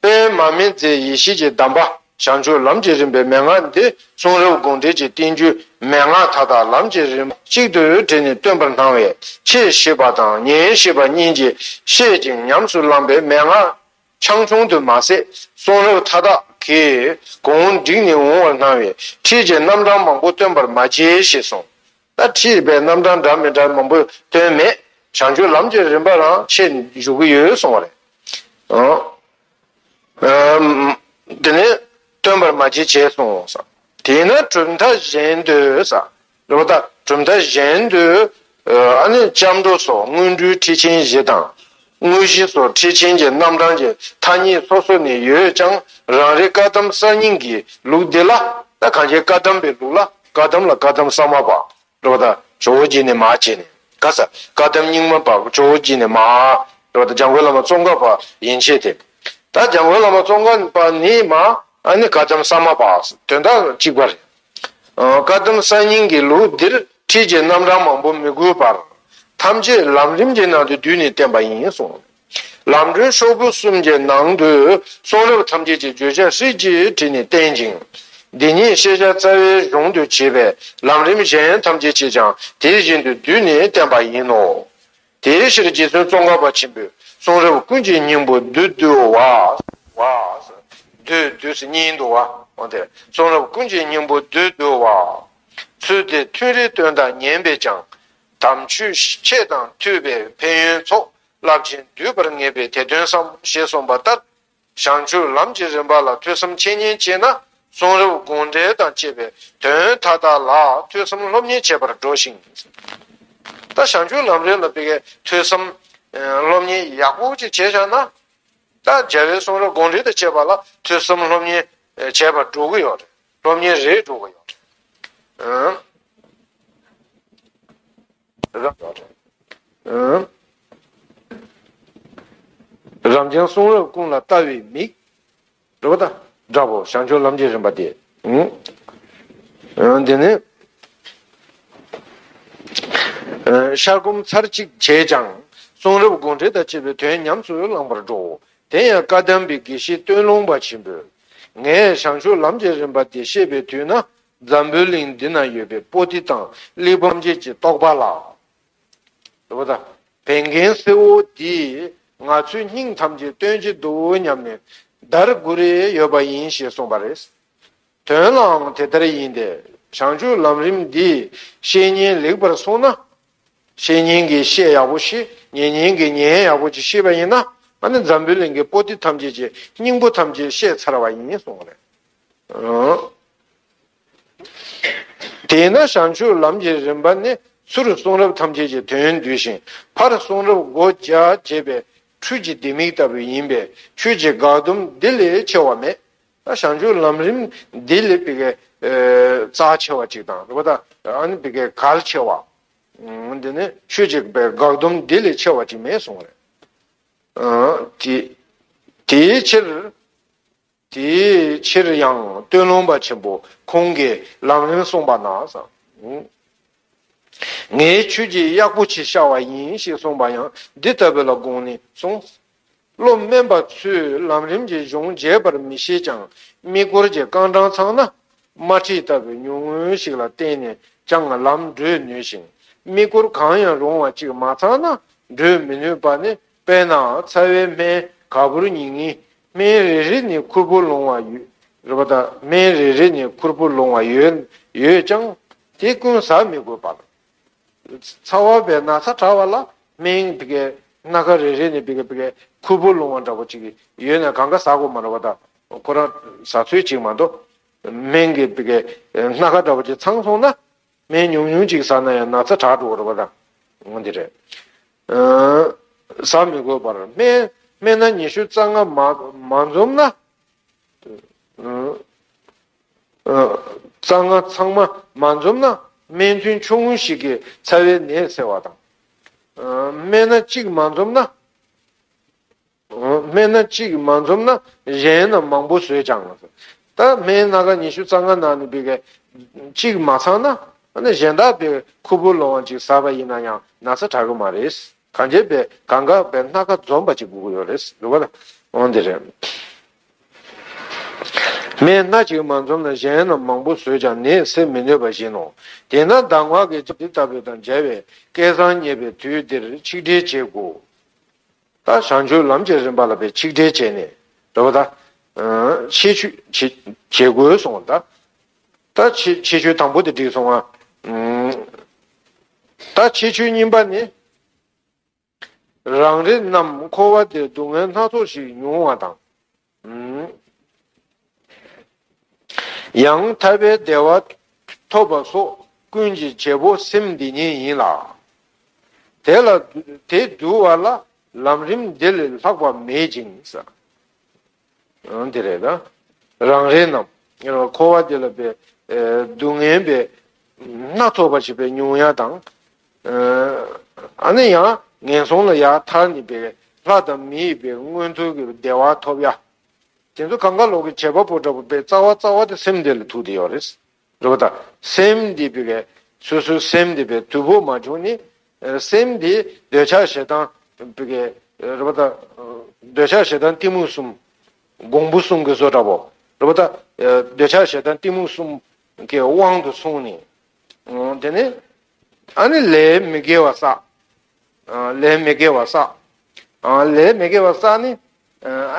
པདྨ་མི་མཛད་ཡེ་ཤེས་ཀྱི་གདམས་པ་བྱང་ཆུབ་ལམ་གྱི་རིམ་པའི་མན་ངག་འདི་གསུང་རབ་དགོངས་འགྲེལ་གྱི་བསྟན་བཅོས་མན་ངག་མཐའ་དག་ལམ་གྱི་རིམ་པ་གཅིག་ཏུ་དྲིལ་ནས་སྟོན་པར་སྣང་བས་ཕྱིས་ཤེས་པ་དང་ཉིན་ཤེས་པ་གཉིས་ཀྱིས་ཤེས་ཅིང་ཉམས་སུ་བླངས་པའི་མན་ངག་ཆང་ཆུང་དུ་མ་ཟད་གསུང་རབ་མཐའ་དག་གི་གོང་བསྒྲིགས་ནས་འོང་བར་སྣང་བས་ཁྲིད་ཀྱི་རྣམ་གྲངས་མང་པོ་སྟོན་པར་མ་བྱས་ཞེས་གསུངས། ད་ཁྲིད་པའི་རྣམ་གྲངས་འདྲ་མི་འདྲ་མང་པོ་སྟོན་མེད། བྱང་ཆུབ་ལམ་གྱི་རིམ་པ་རང་ཆེ་འཇུག་གི་ཡོད་གསུངས་བ་རེད། དེ་ནས་སྟོན་པར་མ་བྱས་ཞེས་གསུངས། དེས་ན་གྲུབ་མཐའ་གཞན་དུ། ལོ་ཟླ་གྲུབ་མཐའ་གཞན་དུ་ཨ་ནི་སྐྱབས་འགྲོ་སོགས་སྔོན་འགྲོའི་ཁྲིད་ཆེན་བཞི་དང། དངོས་གཞི་སོགས་ཁྲིད་ཆེན་གྱི་རྣམ་གྲངས་ཀྱི་ཐ་སྙད་སོ་སོ་ནི་ཡོད་ཀྱང་རང་རེ་བཀའ་གདམས་གསར་རྙིང་གི་ལུགས་འདི་ལ་ད་གང་ཆེ་བཀའ་གདམས་པའི་ལུགས་ལ་བཀའ་གདམས་ལ་བཀའ་གདམས་གསར་མ་བག་ལོ་ཟླ་ཇོ་བོ་རྗེ་ནས་མ་བྱས་ནས་ག་ས་བཀའ་གདམས་རྙིང་མ་བག་ཇོ་བོ་རྗེ་ནས་མ་ལོ་ཟླ་འཇང་དགོན་བླ་མ་ཙོང་ཁ་པ་ཡན་ཆད་དེ་ད་འཇང་དགོན་བླ་མ་ཙོང་ཁ་པ་ནས་མ་ཨ་ནི་བཀའ་གདམས་གསར་མ་བག་དོན་དག་གཅིག་པ་རེད། བཀའ་གདམས་གསར་རྙིང་གི་ལུགས་འདིར་ཁྲིད་ཀྱི་རྣམ་གྲངས་མང་པོ་མི་དགོས་པར། ཐམས་ཅད་ལམ་རིམ་གྱི་ནང་དུ་བསྡུས་ནས་བསྟན་པ་ཡིན་གསུངས། ལམ་སྒྲོན་ཤོག་བུ་གསུམ་གྱི་ནང་དུ་གསུང་རབ་ཐམས་ཅད་ཀྱི་བརྗོད་བྱ་ཧྲིལ་གྱིས་བྲིས་ནས་བསྟན་ཅིང། འདི་ཉིད་ཤེས་བྱ་རྩ་བའི་གཞུང་དུ་བྱས་པས་ལམ་རིམ་གཞན་ཐམས་ཅད་ཀྱིས་ཀྱང་དེ་བཞིན་དུ་བསྡུས་ནས་བསྟན་པ་ཡིན་ནོ། དེའི་ཕྱིར་རྗེ་བཙུན་ཙོང་ཁ་པ་ཆེན་པོས་གསུང་རབ་ཀུན་གྱི་སྙིང་པོ་བདུད་བཏུལ་བ། བདུད་བཏུལ་གཉིས་འདུ་བ། གསུང་རབ་ཀུན་གྱི་སྙིང་པོ་བདུད་བཏུལ་བ། ཚུལ་དེ་མཐུན་རིག་སྟོན་དང་ཉན་པས་ཀྱང། དམ་ཆོས་ཁྱེད་དང་མཐུན་པའི་ཕན་ཡོན་ཚོགས། རླབས་ཆེན་འདུས་པར་ངེས་པས་དེ་སྟོན་བསམ། ཞེས་གསུངས་པ་ལྟར་བྱང་ཆུབ་ལམ་གྱི་རིམ་པ་ལ་ཐོས་བསམ་འཆད་ཉན་བྱས་ན་གསུང་རབ་དགོངས་འགྲེལ་དང་བཅས་པའི་དོན་མཐའ་དག་ལ་ཐོས་བསམ་སློབ་གཉེར་བྱེད་པར་འགྲོ་ཞིང། ད་བྱང་ཆུབ་ལམ་རིམ་ལ་དཔེ་ཀའི་ཐོས་བསམ་སློབ་གཉེར་ཡག་པོ་ཅིག་བྱས་བཞག་ན། ད་རྒྱལ་བའི་གསུང་རབ་དགོངས་འགྲེལ་དང་བཅས་པ་ལ་ཐོས་བསམ་སློབ་གཉེར་བྱེད་པར་འགྲོ་གི་ཡོད་རེད་སློབ་གཉེར་རེད་འགྲོ་གི་ཡོད་རེད། རབ་འབྱམས་གསུང་རབ་ཀུན་ལ་བལྟ་བའི་མིག། སྒྲོ་དང་སྒྲ་ཕོག་བྱང་ཆུབ་ལམ་གྱི་རིམ་པ་སྟེ། འདི་ནི། ཤར་སྒོམ་ཚར་གཅིག་བྱས་ཀྱང། གསུང་རབ་དགོངས་འགྲེལ་དང་བཅས་པའི་དོན་ཉམས་སུ་བླངས་པར་འགྲོའོ། དེ་ཡང་བཀའ་གདམས་པའི་དགེ་བཤེས་སྟོད་ལུང་པ་ཆེན་པོས། ངས་བྱང་ཆུབ་ལམ་གྱི་རིམ་པ་འདི་བཤད་པའི་དུས་ན། འཛམ་བུའི་གླིང་འདི་ན་ཡོད་པའི་པོ་ཏི་དང་གླེགས་བམ་བརྒྱད་ཀྱི་རྟོགས་པ་ལ། བན་རྒན་སེར་བོ་འདིས་ང་ཚོའི་སྙིང་ཐམས་ཅད་སྟོན་གྱི་འདུག་སྙམ་ནས་འདར་དགོས་རེ་ཡོད་པ་ཡིན་ཞེས་གསུངས་པ་རེད། དོན་ལའང་དེ་ལྟར་ཡིན་ཏེ། བྱང་ཆུབ་ལམ་རིམ་འདིའི་བཤེས་གཉེན་ལེགས་པར་བསྲུངས་ན། བཤེས་གཉེན་གྱི་བཤེས་ཡག་པོ་ཞིག་ཉེ་གཉེན་གྱི་ཉེ་ཡག་པོ་ཅིག་ཤེས་པ་ཡིན་ན། འཛམ་བུའི་གླིང་གི་པོ་ཏི་ཐམས་ཅད་ཀྱི་སྙིང་པོ་ཐམས་ཅད་ཤེས་ཚར་བ་ཡིན་གསུངས་པ་རེད། དེས་ན་བྱང་ཆུབ་ལམ་གྱི་རིམ་པ་ནི་ཚུར་གསུང་རབ་ཐམས་ཅད་ཀྱི་དོན་བསྡུས་ཤིང་ཕར་གསུང་རབ་སྒོ་བརྒྱ་འབྱེད་པའི་འཕྲུལ་གྱི་ལྡེ་མིག་ལྟ་བུ་ཡིན་པས་ཁྱོད་ཀྱི་དགག་སྡོམ་འདི་ལས་ཆེ་བ་མེད། བྱང་ཆུབ་ལམ་རིམ་འདི་ལས་རྩ་ཆེ་བ་གཅིག་དང། གལ་ཆེ་བ། འདི་ནི་ཁྱོད་ཀྱི་དགག་སྡོམ་འདི་ལས་ཆེ་བ་གཅིག་མེད་གསུང། དེའི་ཕྱིར། དེའི་ཕྱིར་ཡང་སྟོད་ལུང་པ་ཆེན་པོ་ཁོང་གིས་ལམ་རིམ་གསུངས་པ་ན། ངའི་ཁྱོད་ཀྱིས་གཡག་པོ་ཆེ་ཤ་བ་ཡིན་ཞེས་གསུངས་པ་ཡང་འདི་ལྟ་བུ་ལ་དགོངས་ནས་གསུངས། བློ་དམན་པ་ཚོས་ལམ་རིམ་གྱི་གཞུང་རྒྱས་པར་མི་ཤེས་ཀྱང་དམིགས་སྐོར་གྱི་རྐང་གྲངས་ཚང་ན། དམར་ཁྲིད་ལྟ་བུའི་ཉུང་ངུ་ཞིག་ལ་བརྟེན་ནས་ཀྱང་ལམ་བགྲོད་ནུས་ཤིང་དམིགས་སྐོར་གང་ཡང་རུང་བ་ཅིག་མ་ཚང་ན་བགྲོད་མི་ནུས་པ་ནི་དཔེར་ན་ཚ་བའི་སྨན་ག་བུར་ཉིག་ཉིག། སྨན་རེ་རེ་ནི་ཁུར་པོ་ལོང་བ་ཡོད། རེད་པ་ད། སྨན་རེ་རེ་ནི་ཁུར་པོ་ལོང་བ་ཡོད། ཡོད་ཀྱང། དེ་ཀུན་ཟ་མི་དགོས་པ། ཚ་བ་བས་ན་ཚ་དྲགས་བ་ལ། སྨན་བི་ཀའི་སྣ་ཁ་རེ་རེ་ནི་བི་ཀ་བི་ཀའི་ཁུར་པོ་ལོང་བ་འདྲ་པོ་ཅིག་ཡོད་ན་གང་ག་ཟ་དགོས་མ་རེད་པ་ད། ཁོ་རང་ཟ་ཚོད་ཅིག་མ་གཏོགས། སྨན་གྱི་བི་ཀའི་སྣ་ཁ་འདྲ་པོ་ཅིག་ཚང་སོང་ན། སྨན་ཉུང་ཉུང་ཅིག་ཟ་ན་ཡང་ན་ཚ་དྲག་འགྲོ་བ་རེད། ཟ་མི་དགོས་པར་སྨན་སྣ་ཉི་ཤུ་རྩ་ལྔ་མ་འཛོམས་ན། རྩ་ལྔ་ཚང་མ་མ་འཛོམས་ན་སྨན་ཐུན་ཆུང་ངུ་ཞིག་གིས་ཚ་བའི་ནད་སེལ་བ་དང། སྨན་སྣ་གཅིག་མ་འཛོམས་ན། སྨན་སྣ་གཅིག་མ་འཛོམས་ན་གཞན་རྣམས་མང་པོ་ཟོས་ཀྱང། ད་སྨན་སྣ་ག་ཉི་ཤུ་རྩ་ལྔ་ནང་ནས་འབུལ་བའི། གཅིག་མ་ཚང་ན་གཞན་དག་པའི་ཁུར་པོ་ལོང་བ་ཅིག་ཟ་བ་ཡིན་ན་ཡང་ན་ཚ་དྲག་གི་མ་རེད། གང་རྒྱས་པའི་གང་འགག་པའི་སྣ་ག་འཛོམས་པ་ཅིག་དགོས་ཀྱི་ཡོད་རེད་འདུག་བ་ལ། འོན་ཏེ་རེད། སྨན་སྣ་གཅིག་མ་འཛོམས་ན་གཞན་རྣམས་མང་པོ་ཟོས་ཀྱང་ནད་སེལ་མི་ནུས་པ་བཞིན་ནོ། དེས་ན་གདམས་ངག་གི་འདི་ལྟ་བུ་དང་མཇལ་བའི་སྐལ་བཟང་རྙེད་པའི་དུས་འདིར་ཆིག་སྒྲིལ་བྱེད་དགོས། ད་བྱང་ཆུབ་ལམ་གྱི་རིམ་པ་ལ་པའི་ཆིག་སྒྲིལ་བྱས་ནས་དེ་བ་ད། ཕྱེད་ཆུ། བྱེད་དགོས་སོང་ད། ད་ཕྱེད་ཆུ་དང་པོ་དེ་བསྒྲིགས་སོང་ང། ད་ཕྱེད་ཆུ་གཉིས་པ་ནི། རང་རེ་རྣམས་འཁོར་བ་འདིར་སྡུག་བསྔལ་སྣ་ཚོགས་ཤིག་མྱོང་བ་དང། ཡང་ཐར་པའི་བདེ་བ་ཐོབ་པ་སོགས་ཀུན་གྱི་བྱེད་པོ་སེམས་འདི་ཉིད་ཡིན་ལ། དེ་ལ་དེ་བསྡུ་བ་ལ་ལམ་རིམ་འདི་ལས་ལྷག་པ་མེད་ཅིང། དེ་རེད། རང་རེ་རྣམས་འཁོར་བ་འདི་ལ་བསྡུ་ངན་པའི་སྣ་ཚོགས་པ་བྱེད་པའི་ཉུང་ཡ་དང། ཨ་ནི་ཡང་ངན་སོང་ལ་ཡར་མཐར་ནི་པའི་ལྷ་དང་མི་ཡི་པའི་མངོན་མཐོ་གི་བདེ་བ་ཐོབ་ཡ། དེ་ཚོ་གང་ག་ལོག་གི་བྱེད་པ་པོ་འདྲ་པོ་པའི་རྩ་བ་རྩ་བ་དེ་སེམས་དེ་ལ་ཐུག་དེ་ཡོད་རེད། རེད་པ་ད་སེམས་དེ་པི་གའི་སོ་སོའི་སེམས་དེ་པའི་དུས་བབ་མ་བྱུང་ནི། སེམས་དེ་འདོད་ཆགས་ཞེ་སྡང་པི་གའི་རེད་པ་ད། འདོད་ཆགས་ཞེ་སྡང་གཏི་མུག་གསུམ། འགོང་པོ་གསུམ་གི་བཟོ་འདྲ་པོ་རེད་པ་ད། འདོད་ཆགས་ཞེ་སྡང་གཏི་མུག་གསུམ་གི་དབང་དུ་སོང་ནི། དེ་ནས་ཨ་ནི་ལས་མི་དགེ་བ་བསགས། ལས་མི་དགེ་བ་བསགས། ལས་མི་དགེ་བ་བསགས་ནས་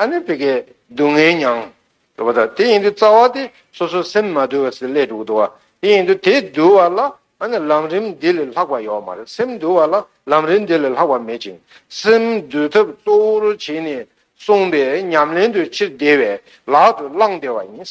ཨ་ནི་བི་ཀའི་སྡུག་བསྔལ་མྱང། རེ་བ་ད་དེ་ཡིན་དུས་རྩ་བ་དེ་སོ་སོའི་སེམས་མ་དུལ་བ་སྲིད་ལས་དྲུག་འདུལ་བ་དེ་ཡིན་དུས་དེ་འདུལ་བ་ལ་ཨ་ནི་ལམ་རིམ་འདི་ལས་ལྷག་པ་ཡོད་མ་རེད་སེམས་འདུལ་བ་ལ་ལམ་རིམ་འདི་ལས་ལྷག་པ་མེད་ཅིང་སེམས་འདུལ་ཐབས་གཙོ་བོར་བྱས་ནས་གསུངས་པས་ཉམས་ལེན་དུ་ཕྱིར་བདེ་བའི་ལག་ཏུ་བླང་བདེ་བ་ཡིན།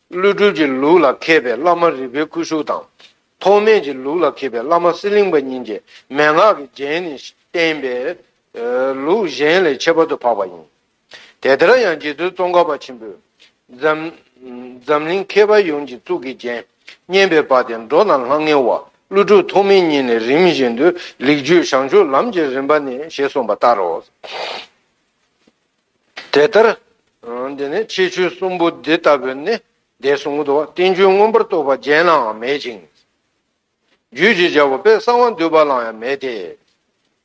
ཀླུ་སྒྲུབ་ཀྱི་ལུགས་ལ་མཁས་པའི་བླ་མ་རི་པའི་སྐུ་གཟུགས་དང། ཐོགས་སྨད་ཀྱི་ལུགས་ལ་མཁས་པའི་བླ་མ་གསེར་གླིང་པ་གཉིས་ཀྱིས་མན་ངག་གི་རྒྱན་ནི་བསྟན་པས། ལུགས་གཞན་ལས་ཁྱད་པར་དུ་འཕགས་པ་ཡིན། དེ་ལྟར་ཡང་རྗེ་བཙུན་ཙོང་ཁ་པ་ཆེན་པོས། འཛམ་གླིང་མཁས་པ་ཡོངས་ཀྱི་གཙུག་གི་རྒྱན། སྙན་པའི་བ་དན་འགྲོ་རྣམས་ལྷང་ངེ་བ། ཀླུ་སྒྲུབ་ཐོགས་མེད་གཉིས་ནི་རིམ་བཞིན་དུ་ལེགས་བརྒྱུད་བྱང་ཆུབ་ལམ་གྱི་རིམ་པ་ནས་ཞེས་གསུངས་པ་ལྟར་རོ། དེ་ལྟར་འདི་ནི་ཕྱིས་ཆོས་གསུམ་པོ་འདི་ལྟ་བུ་ནི་འདས་གསུངས་སོ། རྟེན་འབྱུང་མངོན་པར་རྟོགས་པ་གཞན་ལའང་མེད་ཅིང། རྒྱུད་ཅེས་བྱ་བ་པའི་གསང་བ་འདུས་པ་ལའང་ཡང་མེད་དེ།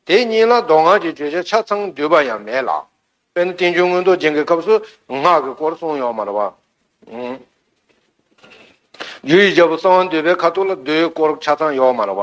དེ་གཉིས་ལ་མདོ་སྔགས་ཀྱི་བརྗོད་བྱ་ཆ་ཚང་འདུས་པ་ཡང་མེད་ལ། དཔེར་ན་རྟེན་འབྱུང་མངོན་རྟོགས་རྒྱན་གྱི་སྐབས་སུ་སྔགས་ཀྱི་སྐོར་གསུངས་ཡོད་མ་རེད་པ། རྒྱུད་ཅེས་བྱ་བ་གསང་བ་འདུས་པའི་ཁ་ཐུག་ལ་རྡོའི་སྐོར་ཆ་ཚང་ཡོད་མ་རེད་པ།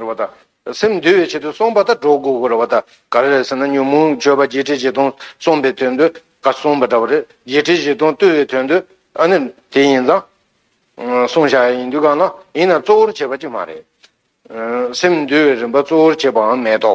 རེ་བ་ད། སེམས་འདུལ་བའི་ཆེད་དུ་སོང་བ་ད་གྲོགས་སྒོ་རེ་བ་ད་ག་རེ་རེད་ཟེར་ན་ཉོན་མོངས་སྤྱོད་པ་བརྒྱད་ཁྲི་བཞི་སྟོང་གསུངས་པའི་དོན་དུ་ག་གསུངས་པ་འདྲ་བ་རེད་བརྒྱད་ཁྲི་བཞི་སྟོང་བཏུལ་བའི་དོན་དུ་ཨ་ནི་དེ་ཡིན་ཙང་གསུང་བཞག་ཡ་ཡིན་དུས་གང་ན་ཡིན་ན་གཙོ་བོར་བྱེད་པ་ཅིག་མ་རེད། སེམས་འདུལ་བའི་རིམ་པ་གཙོ་བོར་བྱེད་པའང་མེད་དོ།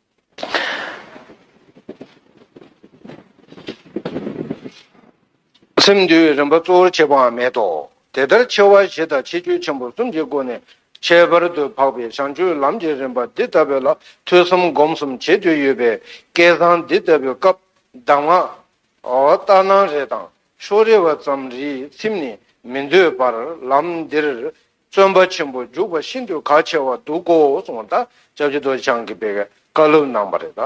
སེམས་འདུལ་བའི་རིམ་པ་གཙོ་བོར་བྱེད་པའང་མེད་དོ། དེ་ལྟར་ཆེ་བ་བཞི་དང་ཆེ་རྒྱུད་ཆེན་པོ་གསུམ་གྱི་སྒོ་ནས་ཁྱད་པར་དུ་འཕགས་པའི་བྱང་ཆུབ་ལམ་གྱི་རིམ་པ་འདི་ལྟ་བུ་ལ་ཐོས་བསམ་སྒོམ་གསུམ་བྱེད་དུ་ཡོད་པས་སྐལ་བཟང་འདི་ལྟ་བུའི་སྐབས་གདམས་ངག་ལྟར་སྣང་རེ་དང་ཕྱོགས་རེ་བ་ཙམ་རིས་ཚིམས་ནས་མི་འདོད་པར་ལམ་འདིར་བརྩོན་པ་ཆེན་པོ་འཇུག་པ་ཤིན་ཏུ་གལ་ཆེ་བར་འདུག་གོ་གསུང་བ་དང་ཅབ་ཅི་རྡོ་རྗེ་འཆང་གིས་སྤེལ་བའི་བཀའ་སློབ་གནང་བ་རེད།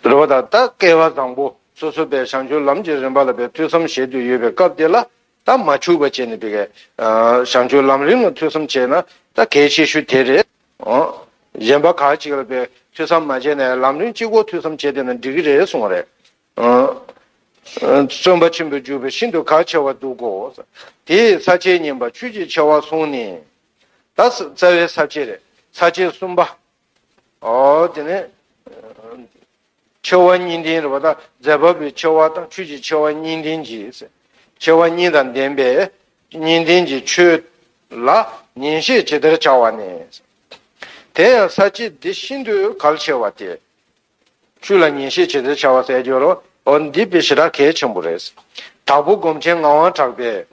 རེ་བ་དང་ད་སྐལ་བ་བཟང་པོ་སོ་སོ་པའི་བྱང་ཆུབ་ལམ་གྱི་རིམ་པ་ལ་པའི་ཐོས་བསམ་བྱེད་དུ་ཡོད་པའི་སྐབས་དེ་ལ་ད་མ་འཆུག་པ་བྱས་ནས་པའི་བྱང་ཆུབ་ལམ་རིམ་ལ་ཐོས་བསམ་བྱས་ན་ད་གལ་ཆེ་ཤོས་དེ་རེད། གཞན་པ་ཁག་ཅིག་ལ་པའི་ཐོས་བསམ་མ་བྱས་ནས་ལམ་རིམ་གཅིག་གོ་ཐོས་བསམ་བྱས་བསྡད་ན་འགྲིག་གི་རེད་གསུང་བ་རེད། བརྩོན་པ་ཆེན་པོས་འཇུག་པས་ཤིན་ཏུ་ག་ཆེ་བར་འདུག་གོ། དེས་ས་ཆའི་བསྙེན་པ་ཆོས་ཀྱི་ཆེ་བ་གསུངས་ནས། ད་རྩ་བའི་ས་ཆའི་རེ་ས་ཆའི་གསུམ་པ། དེ་ནས་ཆེ་བ་གཉིས་ལྡན་རེ་བ་དང་རྫས་འབབ་པའི་ཆེ་བ་དང་ཆོས་ཀྱི་ཆེ་བ་གཉིས་ལྡན་གྱིས། ཆེ་བ་གཉིས་དང་ལྡན་པས་གཉིས་ལྡན་གྱི་ཆོས་ལ་ཉན་བཤད་ཇི་ལྟར་བྱ་བ་ནས། དེ་ཡང་ས་ཆའི་འདི་ཤིན་ཏུ་གལ་ཆེ་བ་སྟེ། ཆོས་ལ་ཉན་བཤད་བྱེད་ཚེ་བྱ་བ་གསལ་འགྱུར་རོ། འོ་འདི་དཔེ་ཞེ་དྲག་གལ་ཆེན་པོ་རེད། དྭགས་པོ་སྒོམ་ཆེན་ངག་དབང་གྲགས་པས།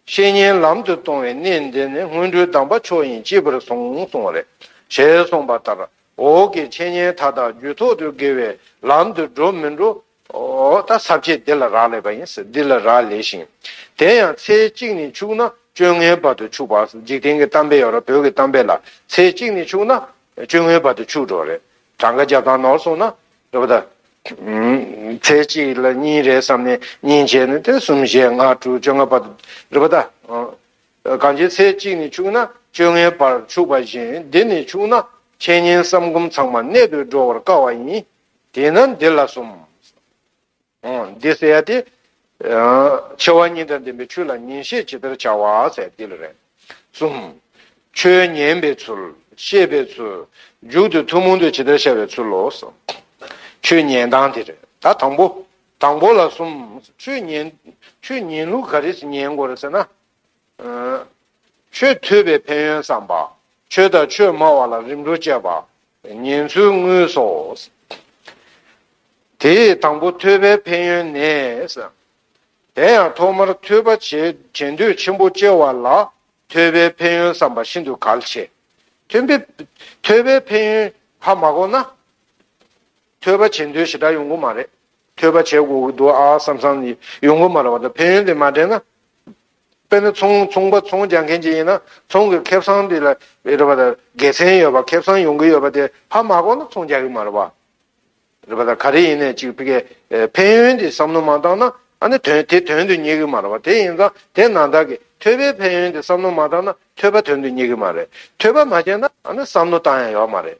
བཤེས་གཉེན་ལམ་དུ་གཏོང་བའི་གནས་འདི་ནི་སྔོན་འགྲོའི་གདམས་པ་མཆོག་ཡིན་གཅེས་པར་བཟུང་གསུང་བ་རེད། ཞེས་གསུངས་པ་ལྟར་འོག་གི་འཆད་ཉན་མཐའ་དག་རྒྱུད་ཐོག་ཏུ་དགེ་བའི་ལམ་དུ་འགྲོ་མི་འགྲོ་ཨོ། ད་ཟབ་ཁྱད་འདི་ལ་རག་ལས་པ་ཡིན། འདི་ལ་རག་ལས་ཤིང། དེ་ཡང་ཚེ་གཅིག་ནས་ཕྱུག་ན་བཅོ་ལྔའི་བར་དུ་ཕྱུག་པ། འཇིག་རྟེན་གྱི་གཏམ་དཔེ་ཡོད་རེད་བོད་ཀྱི་གཏམ་དཔེ་ལ། ཚེ་གཅིག་ནས་ཕྱུག་ན་བཅོ་ལྔའི་བར་དུ་ཕྱུག་འགྲོ་རེད། གྲངས་ཀ་བརྒྱ་དང་ནོར་སོང་ན། རེད་པ་ད། ཚེ་གཅིག་ལ་གཉིས་རེད་བསམ་ནས་གཉིས་བྱས་ནས་དེ་གསུམ་བཞི་ལྔ་དྲུག་བཅོ་ལྔ་བར་དུ། རེད་པ་ད། གང་ཅིའི་ཚེ་གཅིག་ནས་ཕྱུག་ན་བཅོ་ལྔའི་བར་ཕྱུག་པ་བཞིན་འདི་ནས་ཕྱུག་ན། འཆད་ཉན་བསམ་སྒོམ་ཚང་མ་གནད་དུ་སྒྲོ་བར་དཀའ་བ་ཡིན། དེས་ན་འདི་ལ་གསུམ། འདི་བསལ་ཡ་སྟེ། ཆེ་བ་གཉིས་དང་ལྡན་པའི་ཆུ་ལ་ཉིན་ཤས་ཇི་ལྟར་བྱ་བ་བསལ་འདི་ལ་རེ། གསུམ། ཆོས་ཉན་པའི་ཚུལ། ཤེས་པའི་ཚུལ། མཇུག་ཏུ་ཐུན་མོང་དུ་ཇི་ལྟར་བྱ་བའི་ཚུལ་ལོ། ཆོས་ཉན་སྟངས་དེ་རེ། ད་དང་པོ། དང་པོ་ལ་གསུམ། ཆོས་ཉན། ཆོས་ཉན་ལུགས་ག་རེས་ཉན་དགོས་རེ་ཟེར་ན། ཆོས་ཐོས་པའི་ཕན་ཡོན་བསམ་པ། ཆོས་དང་ཆོས་སྨྲ་བ་ལ་རིམ་གྲོ་བཅས་པ། ཉེན་ཚོད་དངུལ་སོགས། དེ་ཡི་དང་པོ་ཐོས་པའི་ཕན་ཡོན་ནས། དེ་ཡང་ཐོག་མར་ཐོས་པ་བྱེད་འདོད་ཆེན་པོ་སྐྱེ་བ་ལ་ཐོས་པའི་ཕན་ཡོན་བསམ་པ་ཤིན་ཏུ་གལ་ཆེ། ཐོས་པའི་ཕན་ཡོན་ཧ་མ་གོ་ན། ཐོས་པ་བྱེད་འདོད་ཞེ་དྲག་ཡོང་གི་མ་རེད། ཐོས་པ་བྱེད་དགོས་ཀྱི་འདུག་ཨ་བསམ་བསམ་ཡོང་གི་མ་རེད་བ་དང་ཕན་ཡོན་དེ་མ་དྲན་ན། དཔེར་ན་ཚོང་ཚོང་པ་ཚོང་རྒྱག་མཁན་གཅིག་ཡིན་ན་ཚོང་གི་ཁེབས་སང་དེ་ལ་རེད་པ་དང་དགེ་མཚན་ཡོད་པ་ཁེབས་སང་ཡོང་གི་ཡོད་པ་དེ་ཧ་མ་གོ་ན་ཚོང་རྒྱག་གི་མ་རེད་པ། རེད་པ་དང་ག་རེ་ཡིན་ནས་ཅིག་ཕི་གས་ཕན་ཡོན་དེ་བསམ་བློ་མ་བཏང་ན་ཨ་ནི་དོན་དེ་དོན་དུ་སྙེག་གི་མ་རེད་པ་དེ་ཡིན་ཙང་དེ་ན་བདག་གིས་ཐོས་པའི་ཕན་ཡོན་དེ་བསམ་བློ་མ་བཏང་ན་ཐོས་པ་དོན་དུ་སྙེག་གི་མ་རེད་ཐོས་པ་མ་བྱས་ན་ཨ་ནི་བསམ་བློ་བཏང་ཡང་ཡོད་མ་རེད་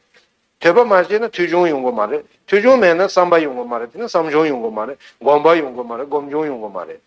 ཐོས་པ་མ་བྱས་ན་ཐོས་ཆུང་ཡོང་གི་མ་རེད་ཐོས་ཆུང་མེད་ན་བསམ་པ་ཡོང་གི་མ་རེད་དེ་ནས་བསམ་ཆུང་ཡོང་གི་མ་རེད་སྒོམ་པ་ཡོང་གི་མ་རེད་སྒོམ་ཆུང་ཡོང་གི་མ་རེད།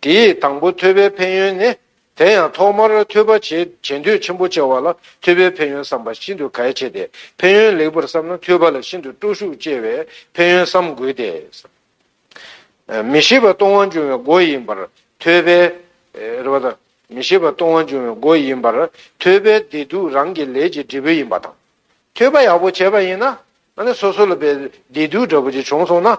དེ་ཡི་དང་པོ་ཐོས་པའི་ཕན་ཡོན་ནི། དེ་ཡང་ཐོག་མར་ཐོས་པ་བྱེད་འདོད་ཆེན་པོ་ཆེ་བ་ལ་ཐོས་པའི་ཕན་ཡོན་བསམ་པ་ཤིན་ཏུ་གལ་ཆེ་སྟེ། ཕན་ཡོན་ལེགས་པར་བསམ་ན་ཐོས་པ་ལ་ཤིན་ཏུ་སྤྲོ་ཤུགས་སྐྱེ་བས་ཕན་ཡོན་བསམ་དགོས་ཏེ། མི་ཤེས་པ་སྟོང་བ་འབྱུང་བའི་སྒོ་ཡིན་པར་ཐོས་པས། རེ་བ་དང། མི་ཤེས་པ་སྟོང་བ་འབྱུང་བའི་སྒོ་ཡིན་པར་ཐོས་པས་བདེ་སྡུག་རང་གི་ལས་ཀྱི་འབྲས་བུ་ཡིན་པ་དང། ཐོས་པ་ཡག་པོ་བྱས་པ་ཡིན་ན། སོ་སོ་ལ་བདེ་སྡུག་འདྲ་པོ་ཅིག་བྱུང་སོང་ན།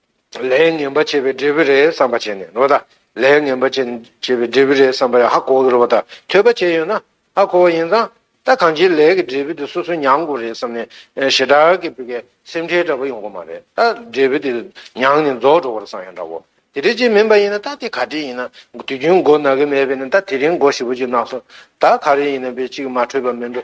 ལས་ངན་པ་བྱས་པའི་འབྲས་བུ་རེད་བསམ་པ་བྱས་ནས་རོ་ད། ལས་ངན་པ་བྱས་པའི་འབྲས་བུ་རེད་བསམ་པ་ཧ་གོ་གི་རོ་ད། ཐོས་པ་བྱས་ཡོད་ན་ཧ་གོ་བ་ཡིན་ཙང་ད་གང་ཅིའི་ལས་ཀྱི་འབྲས་བུ་དེ་སོ་སོས་མྱངས་དགོས་རེད་བསམ་ནས་ཞེ་དྲག་གི་བོད་སྐད་སེམས་ཁྲལ་འདྲ་པོ་ཡོང་གི་མ་རེད་ད། འབྲས་བུ་དེ་མྱངས་ནས་རྫོགས་འགྲོ་བར་བསམ་ཡང་འདྲ་བོ། དེ་འདྲ་ཅིག་མིན་པ་ཡིན་ན་ད་དེ་ག་དེ་ཡིན་ན་དུས་རྒྱུན་མགོ་ན་གི་མེད་པས་ནི་ད་དེ་རིང་མགོ་ཞིབ་པོ་ཅིག་ན་སོང་ད་ག་རེ་ཡིན་ན་པའི་ཅིག་མ་འཕྲོད་པ་མིན་འགྲོ།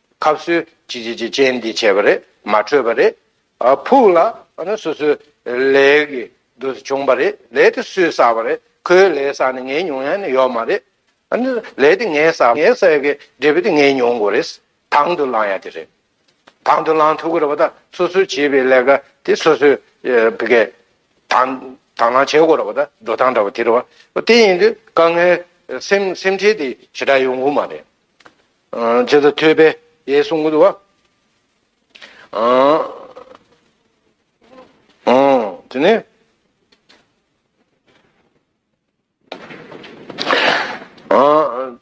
ཁབ་གསོལ། ཅི་ཅི་ཅི་ཅན་འདི་བྱས་པ་རེད་མ་འཕྲོད་པ་རེད། ཕུག་ལ་ནི་སོ་སོའི་ལས་ཀྱི་དུས་སུ་བྱུང་བ་རེད་ལས་དེ་སུས་བསགས་པ་རེད་ཁོའི་ལས་བསགས་ནས་ངའི་མྱོང་ཡང་ནི་ཡོད་མ་རེད། ལས་དེ་ངས་བསགས་ངས་བསགས་ཡོད་ཀྱི་འབྲས་བུ་དེ་ངས་མྱོང་དགོས་རེད། དང་དུ་བླང་ཡ་དེ་རེད། དང་དུ་བླང་ཐུབ་ཀྱི་རེད་བ་ད་སོ་སོའི་བྱས་པའི་ལས་ཀ་དེ་སོ་སོའི་དང་དང་བླང་བྱེད་དགོས་རེད་བ་ད་འགྲོ་སྟངས་འདྲ་བ་དེ་རེད་བ་དེ་ཡིན་དུས་དཀའ་ངལ་སེམས་སེམས་ཁྲལ་དེ་ཞེ་དྲག་ཡོང་དགོས་མ་རེད། ཇི་ལྟར་ཐོས་པས་དེའི་གསུང་གི་བ། དེ་ནས།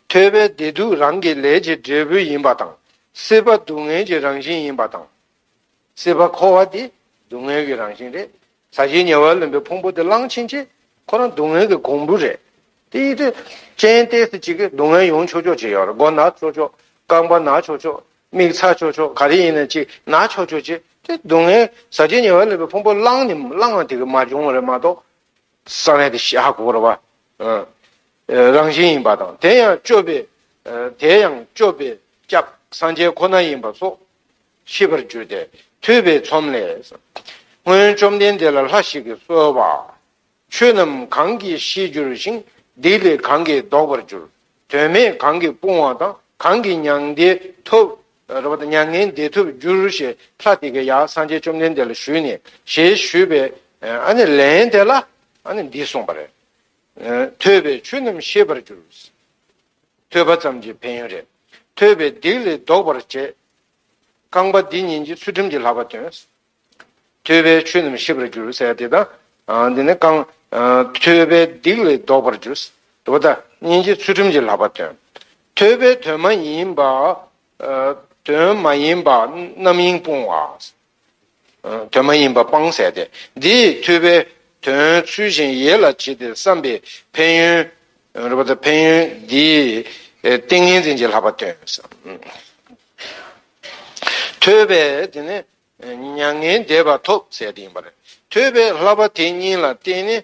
ཐོས་པས་བདེ་སྡུག་རང་གི་ལས་ཀྱི་འབྲས་བུ་ཡིན་པ་དང། སྲིད་པ་སྡུག་བསྔལ་གྱི་རང་བཞིན་ཡིན་པ་དང། སྲིད་པ་འཁོར་བ་འདི་སྡུག་བསྔལ་གྱི་རང་བཞིན་རེད། ཟ་བྱེད་ཉེ་བར་ལེན་པའི་ཕུང་པོ་དེ་བླངས་ཕྱིན་ཆད་ཁོ་རང་སྡུག་བསྔལ་གྱི་གོང་བུ་རེད། དེ་ཡིད་དེ་ཅན་གཏད་སྲིད་ཅིག་གིས་སྡུག་བསྔལ་ཡོང་ཆོག་ཆོག་ཅིག་ཡོད་རེད་མགོ་ན་ཆོག་ཆོག་རྐང་པ་ན་ཆོག་ཆོག་མིག་ཚ་ཆོག་ཆོག་ག་རེ་ཡིན་ན་ཅིག་ན་ཆོག་ཆོག་ཅིག་དེ་སྡུག་བསྔལ་ཟ་བྱེད་ཉེ་བར་ལེན་པའི་ཕུང་པོ་བླངས་ནི་བླངས་ལ་དེ་གིས་མ་བྱུང་བ་རེད་མ་གཏོགས། ས་གནས་དེ་ཤ་འཁོར་བ་རང་བཞིན་ཡིན་པ་དང་དེ་ཡང་སྤྱོད་པའི་དེ་ཡང་སྤྱོད་པའི་སྐྱབས་སངས་རྒྱས་ཁོ་ན་ཡིན་པ་སོགས་ཤེས་པར་གྱུར་ཏེ་ཐོས་པའི་ཚོམས་ལས། སྔོན་བཅོམ་ལྡན་འདས་ལ་ལྷ་ཞིག་གིས་གསོལ་པ། ཆོས་རྣམས་གང་གིས་ཤེས་འགྱུར་ཞིང་སྡིག་ལས་གང་གིས་བཟློག་པར་འགྱུར། དོན་མེད་གང་གིས་སྤོང་བ་དང་གང་གིས་མྱ་ངན་འདས་ཐོབ། མྱ་ངན་འདས་ཐོབ་འགྱུར་ཞེས་ལྷ་དེ་གའི་ཡང་སངས་རྒྱས་བཅོམ་ལྡན་འདས་ལ་ཞུས་ནས་ཞེས་ཞུས་པས། ལན་དེ་ལ་འདི་གསུངས་པ། ཐོས་པས་ཆོས་རྣམས་ཤེས་པར་འགྱུར། ཐོས་པ་ཙམ་གྱིས་ཕན་ཡོན་རེ། ཐོས་པའི་སྡིག་ལས་ཟློག་པར་བྱེད། རྐང་པ་འདི་གཉིས་ཀྱིས་ཚུལ་ཁྲིམས་ཀྱི་ལྷག་པ་སྟོན། ཐོས་པས་ཆོས་རྣམས་ཤེས་པར་འགྱུར། ཟེར་དེ་དང། འདི་ནི་རྐང། ཐོས་པའི་སྡིག་ལས་ཟློག་པར་འགྱུར། དོ་བདག་གཉིས་ཀྱིས་ཚུལ་ཁྲིམས་ཀྱི་ལྷག་པ་སྟོན། ཐོས་པས་དོན་མ་ཡིན་པ། དོན་མ་ཡིན་པ་རྣམ་གཡེང་སྤོང་བ། དོན་མ་ཡིན་པ་སྤང་བསལ་ཏེ། འདི་ཡི་ཐོས་པས་དོན་ཚུལ་བཞིན་ཡིད་ལ་བྱེད་དེ་བསམ་པའི་ཕན་ཡོན། ཕན་ཡོན་འདིའི་ཏིང་ངེ་འཛིན་གྱི་ལྷག་པ་སྟོན། ཐོས་པས་དེ་ནས་མྱ་ངན་འདས་པ་ཐོབ་བསལ་ཏེ་ཡིན་པར། ཐོས་པས་ལྷག་པ་དེ་གཉིས་ལ་བརྟེན་ནས་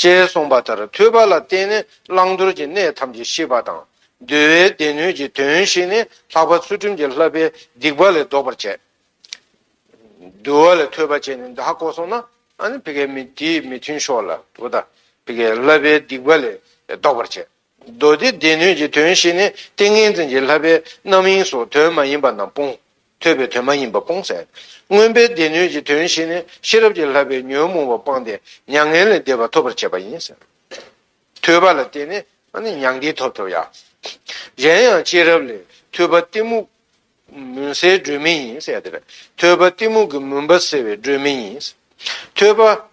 ཅེས་གསུངས་པ་ལྟར་ཐོས་པ་ལ་བརྟེན་ནས་བླང་དོར་གྱི་གནས་ཐམས་ཅད་ཤེས་པ་དང། འདུལ་བའི་སྡེ་སྣོད་ཀྱི་དོན་ཤེས་ནས་ལྷག་པ་ཚུལ་ཁྲིམས་ཀྱི་ལྷ་པས་སྡིག་པ་ལས་ཟློག་པར་བྱེད། འདུལ་བ་ལས་ཐོས་པ་ཅན་ནི་འདི་ཧ་གོ་སོང་ན། དེའི་མི་མཐུན་ཕྱོགས་ལ། ལྷ་པས་སྡིག་པ་ལས་ཟློག་པར་བྱེད། མདོ་སྡེ་སྡེ་སྣོད་ཀྱི་དོན་བཞི་ནི་ཏིང་ངེ་འཛིན་གྱི་ལྷ་པའི་རྣམ་གཡེང་སོགས་དོན་མ་ཡིན་པ་རྣམས་སྤོང། ཐོས་པའི་དོན་མ་ཡིན་པ་སྤོང། སྔོན་པོའི་སྡེ་སྣོད་ཀྱི་དོན་བཞི་ནི་ཤེས་རབ་ཀྱི་ལྷ་པའི་ཉོན་མོངས་པ་སྤངས་ཏེ་མྱ་ངན་ལས་འདས་པ་ཐོབ་པར་བྱེད་པ་ཡིན། ཐོས་པ་ལ་བརྟེན་ནས་མྱ་ངན་ཐོབ་ཐུབ། གཞན་ཡང་སྐྱེས་རབས་ལས་ཐོས་པ་གཏི་མུག་མུན་སེལ་སྒྲོན་མེ་ཡིན། ཐོས་པ་གཏི་མུག་གི་མུན་པ་སེལ་བའི་སྒྲོན་མེ་ཡིན། ཐོས་པ།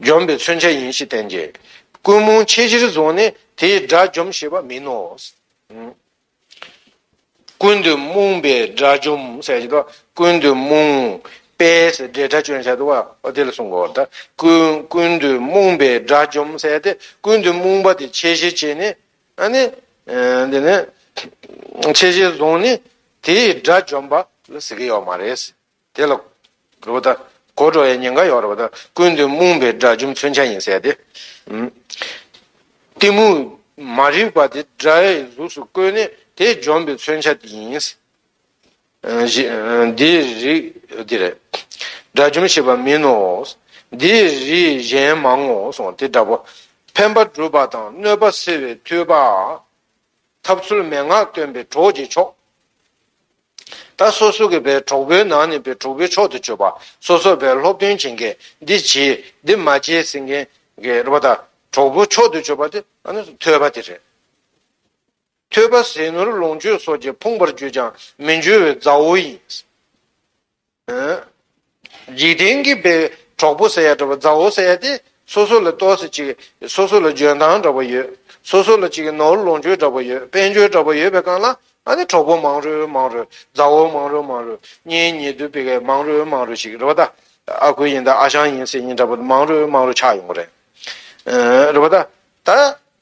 འཇོམས་པའི་མཚོན་བྱ་ཡིན་ཞེས་བསྟན་ཏེ། ཀུན་རྨོངས་ཆེས་ཆེར་བཟུང་ནས་དེས་དགྲ་འཇོམས་ཞེས་པ་མིན་ནོ། ཀུན་ཏུ་རྨོངས་པས་དགྲ་འཇོམས་ཟེར་ཏོ། ཀུན་ཏུ་རྨོངས་པས་དགྲའི་དགྲ་བཅོམ་བྱ་ཏོ། དེ་ལ་གསུངས་པའོ། ཀུན་ཏུ་རྨོངས་པས་དགྲ་འཇོམས་ཟེར་ཏེ། ཀུན་ཏུ་རྨོངས་པ་དེ་ཆེས་ཆེར་བྱས་ནས། དེ་ནས་ཆེས་ཆེར་བཟུང་ནས་དེས་དགྲ་འཇོམས་པ་ལ་ཟེར་གྱི་ཡོད་མ་རེད། དེ་ལ། རུ་བ་དང། གོ་འགྲོ་བའི་ཉེན་ཁ་ཡོང་རུ་བ་དང་ཀུན་ཏུ་རྨོངས་པའི་དགྲ་རྒྱུ་མཚོན་ཆ་ཡིན་ཟེར་ཏེ། གཏི་མུག་མ་རིག་པ་དེ་དགྲའི་གཟུགས་སུ་བཀོད་ནས་དེ་འཇོམས་པའི་མཚོན་ཆ་དེ་ཡིན། འདིའི་རིགས་འདི་རེད། དགྲ་རྒྱུམ་ཞེས་པ་མིན་ནོ། འདིའི་རིགས་གཞན་མང་ངོ་སོང་དེ་འདྲ་བོ། ཕན་པ་སྒྲུབ་པ་དང་གནོད་པ་སེལ་བའི་མཐུས་པ། ཐབས་ཚུལ་མན་ངག་སྟོན་པའི་གྲོགས་ཀྱི་མཆོག། ད་སོ་སོ་གི་པའི་གྲོགས་པོའི་ནང་ནས་པའི་གྲོགས་པོའི་མཆོག་ཏུ་གྱུར་པ་སོ་སོར་པའི་སློབ་སྟོན་བྱེད་མཁན་འདི་བྱས་འདི་མ་བྱས་ཟེར་མཁན་གྱི་རེ་བ་དང་གྲོགས་པོའི་མཆོག་ཏུ་གྱུར་པ་དེ་ཨ་ནི་ཐོས་པ་དེ་རེད། ཐོས་པ་ཟས་ནོར་ལོངས་སྤྱོད་སོགས་ཀྱིས་ཕུང་བར་གྱུར་ཀྱང་མི་འགྱུར་བའི་མཛའ་བོ་ཡིན། འཇིག་རྟེན་གྱི་བའི་གྲོགས་པོ་ཟེར་ཡ་འདྲ་བ་མཛའ་བོ་ཟེར་ཡ་དེ་སོ་སོ་ལ་ཏོག་སེ་ཅིག་སོ་སོ་ལ་འཇོན་ཐང་འདྲ་བ་ཡོད་སོ་སོ་ལ་ཅིག་ནོར་ལོངས་སྤྱོད་འདྲ་བ་ཡོད་དཔལ་འབྱོར་འདྲ་བ་ཡོད་པའི་སྒང་ལ་ཨ་ནི་གྲོགས་པོ་མང་རུས་མང་རུས་མཛའ་བོ་མང་རུས་མང་རུས་གཉེན་ཉེ་དུ་བི་གས་མང་རུས་མང་རུས་ཞིག་རེད་པ་ད་ཨ་ཁུ་ཡིན་ད་ཨ་ཞང་ཡིན་སེ་ཡིན་འདྲ་བ་མང་རུས་མང་རུས་ཆགས་ཡོང་གི་རེད་རེད་པ་ད་ད།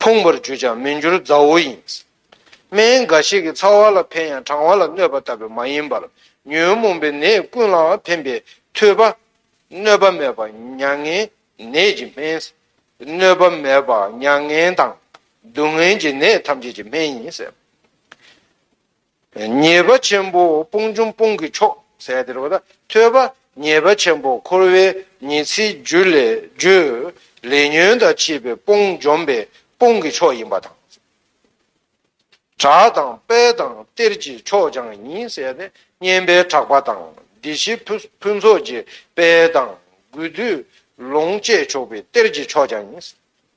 ཕུང་བར་གྱུར་ཀྱང་མི་འགྱུར་མཛའ་བོ་ཡིན། སྨན་འགའ་ཞིག་གིས་ཚ་བ་ལ་ཕན་ཡང་གྲང་བ་ལ་གནོད་པ་ལྟ་བུ་མ་ཡིན་པར་ཉོན་མོངས་པའི་ནད་ཀུན་ལའང་ཕན་པའི་མཐུས་པ། གནོད་པ་མེད་པ་མྱ་ངན་ནད་ཀྱི་སྨན། གནོད་པ་མེད་པ་མྱ་ངན་དང་སྡུག་བསྔལ་གྱི་ནད་ཐམས་ཅད་ཀྱི་སྨན་ཡིན། ཉེས་པ་ཆེན་པོ་སྤོང་ཆུང་སྤོང་གི་མཆོག་ཟད་དེར་བ་ད་ཐོས་པ་ཉེས་པ་ཆེན་པོ་འཁོར་བའི་ཉེས་ཚིག་རྒྱུད་ལས་བརྗོད་ལས་ཉོན་དང་བཅས་པའི་སྤོང་འཇོམས་པའི་སྤོང་གི་མཆོག་ཡིན་པ་དང། དྲག་དང་དཔལ་དང་གཏེར་གྱི་མཆོག་ཀྱང་ཡིན་ཟད་ནས་བསྙེན་པའི་དྲག་པ་དང་སྡེ་བཞི་ཕུན་ཚོགས་ཀྱི་དཔལ་དང་དགོས་འདོད་ལོངས་སྤྱད་ཆོག་པའི་གཏེར་གྱི་མཆོག་ཀྱང་ཡིན།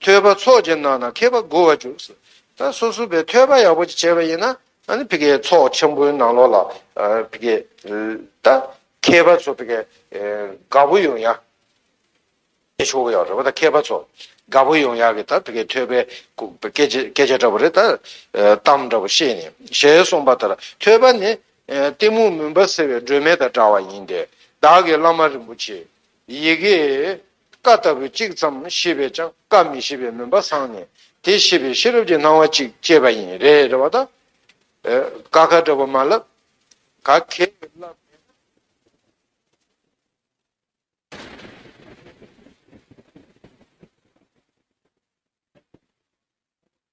ཐོད་པ་ཚོགས་ཀྱི་ནང་ན་མཁས་པ་དགུ་བ་བཅུག། ད་སོ་སོ་པའི་ཐོད་པ་ཡག་པོ་ཅིག་བྱས་པ་ཡིན་ན། བི་ཀའི་ཚོགས་ཆེན་པོའི་ནང་ལོགས་ལ། བི་ཀའི། ད། མཁས་པ་ཚོ་བི་ཀའི། དགའ་བོ་ཡོང་ཡ། ཀྱི་ཆོ་ག་ཡག་རེད་བ་ད་མཁས་པ་ཚོ། དགའ་བོ་ཡོང་ཡ་གི་ད་བི་ཀའི་ཐོད་པའི། སྐད་ཆ་སྐད་ཆ་འདྲ་བོ་རེ་ད། གཏམ་འདྲ་བོ་བཤད་ནས་ཞལ་གསུངས་པ་ལྟར་ཐོད་པ་ནི། གཏི་མུག་མུན་པ་སེལ་བའི་སྒྲོན་མེ་དང་འདྲ་བ་ཡིན་ཏེ། བདག་གི་བླ་མ་རིན་པོ་ཆེ། ཡི་གེ། བཀའ་ལྟ་བུ་གཅིག་ཙམ་ཤེས་པས་ཀྱང་བཀའ་མི་ཤེས་པའི་མུན་པ་སངས་ནས་དེ་ཤེས་པའི་ཤེས་རབ་ཀྱི་སྣང་བ་གཅིག་སྐྱེས་པ་ཡིན། རེད་རེད་བ་དང། ག་ག་འདྲ་བོ་མ་ལབ། ག་གེ་ལབ་མེད་ན།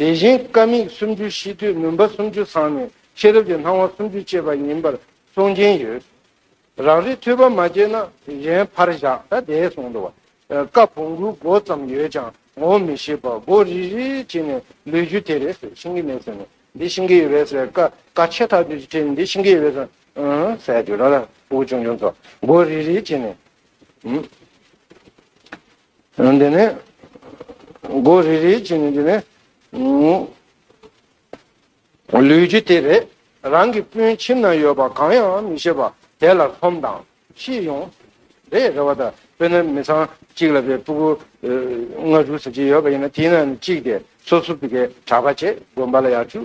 དེ་བཞིན་དཀའ་དམིགས་སུམ་ཅུ་ཤེས་དུས་མུན་པ་སུམ་ཅུ་སངས་ནས་ཤེས་རབ་ཀྱི་སྣང་བ་སུམ་ཅུ་སྐྱེས་པ་ཡིན་པར་གསུང་གིན་ཡོད། རང་རེས་ཐོས་པ་མ་སྐྱེས་ན་གཞན་ཕར་བཞག་ད་དེའི་གསུང་དུ། བཀའ་བོང་གུ་མགོ་ཙམ་ཡོད་ཀྱང་ངོ་བོ་མི་ཤེས་པར་མགོ་རིལ་རིལ་བྱས་ནས་ལུས་རྒྱུ་དེ་རེད་ཟེར་ཤེས་ཀྱི་མེད་ཟེར་ནས་འདི་ཤེས་ཀྱི་ཡོད་རེད་ཟེར་བཀའ་བཀའ་ཆད་ཐག་དུས་ཀྱི་ཁྲིད་འདི་ཤེས་ཀྱི་ཡོད་རེད་ཟེར། ཟས་དུས་རང་རང་དབུགས་ཆུང་ཆུང་ཚོ་མགོ་རིལ་རིལ་བྱས་ནས། འདི་ནི། སྒོ་རེ་རེའི་ཆེད་ནི་འདི་ནི། ལུས་ཀྱི་དེ་རེ་རང་གི་སྤུན་ཁྱིམ་ན་ཡོད་པ་གང་ཡང་མི་ཤེས་པ་དེ་ལ་ལྷོམ་དང་ཤེས་ཡོང། རེ་རེ་བ་དང་དཔེར་ན་མི་ཚང་གཅིག་ལ་བའི་སྤུ་གུ་ལྔ་དྲུག་ཟེར་གྱི་ཡོད་པ་ཡིན་ན་དེའི་ནང་ནས་གཅིག་དེ་སོ་སོ་བི་གའི་གྲགས་པ་བྱེད་དགོན་པ་ལ་ཡར་ཆུག་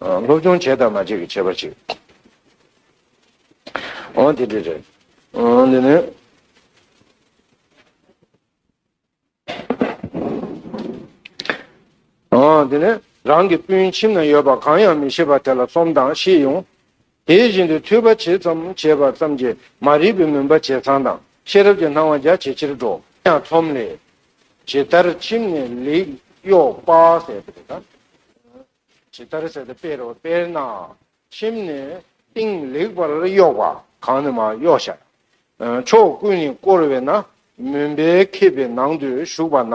སློབ་སྦྱོང་བྱས་དང་མ་བྱས་ཀྱི་བྱས་པ་ཞིག་ཨང་དེ་འདྲས་རེད། འདི་ནི། འདི་ནི་རང་གི་སྤུན་ཁྱིམ་ན་ཡོད་པ་གང་ཡང་མི་ཤེས་པ་དེ་ལ་སོམས་དང་ཤེས་ཡོང། དེ་བཞིན་དུ་ཐོས་པ་ཇི་ཙམ་བྱས་པ་ཙམ་གྱིས་མ་རིག་པའི་མུན་པ་ཇེ་ཚང་དང་ཤེས་རབ་ཀྱི་སྣང་བ་རྒྱ་ཇེ་ཆེར་འགྲོ་ཡང་ཚོམས་ལས། ཇི་ལྟར་ཁྱིམ་ནས་ལེགས་གཡོག་དཔག་ཟད་པས་ན། ཇི་ལྟར་ཟད་པའི་དཔེར་ན། ཁྱིམ་ནས་སྟེང་ལེགས་པར་གཡོགས་པ་གང་ནི་མ་གཡོགས་ཤར། ཕྱོགས་ཀུན་ནས་བསྐོར་བས་ན་མུན་པའི་ཁེབས་པའི་ནང་དུ་ཞུགས་པ་ན།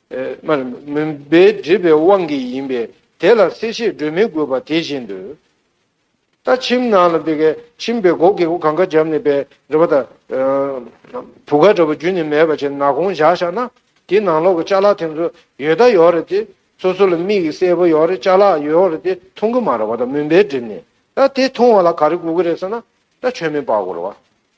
མུན་པས་བསྒྲིབས་པའི་དབང་གིས་ཡིན་པས་དེ་ལ་གསལ་བཤད་སྒྲོས་མི་དགོས་པ་དེ་བཞིན་དུ། ད་ཁྱིམ་ནང་ལ་འདི་སྐད་ཁྱིམ་པའི་སྒོ་གེགས་གང་ག་འཇམ་ནས་པའི་འདྲ་བ་དང། བུ་ག་འདྲ་བ་བརྒྱུད་ནས་མེད་པ་བྱས་ན་གོང་བཞག་བཞག་ན་དེ་ནང་ལོག་གི་བཅའ་ལག་དེ་ཚོ་ཡོད་ད་ཡོད་རེད་དེ་སོ་སོ་ལ་མིག་གི་གསལ་པོ་ཡོད་རེད་བཅའ་ལག་ཡོད་རེད་དེ་མཐོང་གི་མ་རེད་བ་ད་མུན་པས་བསྒྲིབས་ནས་ད་དེ་མཐོང་བ་ལ་ག་རེ་དགོས་ཀྱི་རེད་ཟེར་ན་ད་ཆོས་མིན་པ་གོ་རེད་བ།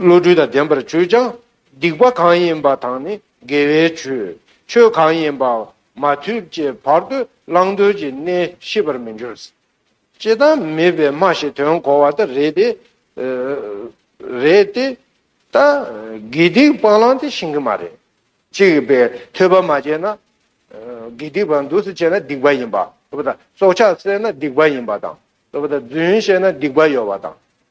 བློ་གྲོས་དང་ལྡན་པར་བྱོས་ཀྱང། སྡིག་པ་གང་ཡིན་པ་དང་ནི་དགེ་བའི་ཆོས། ཆོས་གང་ཡིན་པ། མ་ཐོས་ཀྱི་བར་དུ་བླང་དོར་གྱི་གནས་ཤེས་པར་མི་འགྱུར། ཅེས་དང་མེད་པའི་སྨྲ་ཞེས་དོན་གོ་བ་ལྟར་རེད་དེ། རེད་དེ། ད་དགེ་སྡིག་སྤང་བླང་དེ་ཤེས་གི་མ་རེད། གཅིག་པས་ཐོས་པ་མ་བྱས་ན། དགེ་སྡིག་པ་འདུག་ཟེར་བྱས་ན་སྡིག་པ་ཡིན་པ། སྲོག་ཆགས་བསད་ན་སྡིག་པ་ཡིན་པ་དང། རྫུན་བཤད་ན་སྡིག་པ་ཡོད་པ་དང།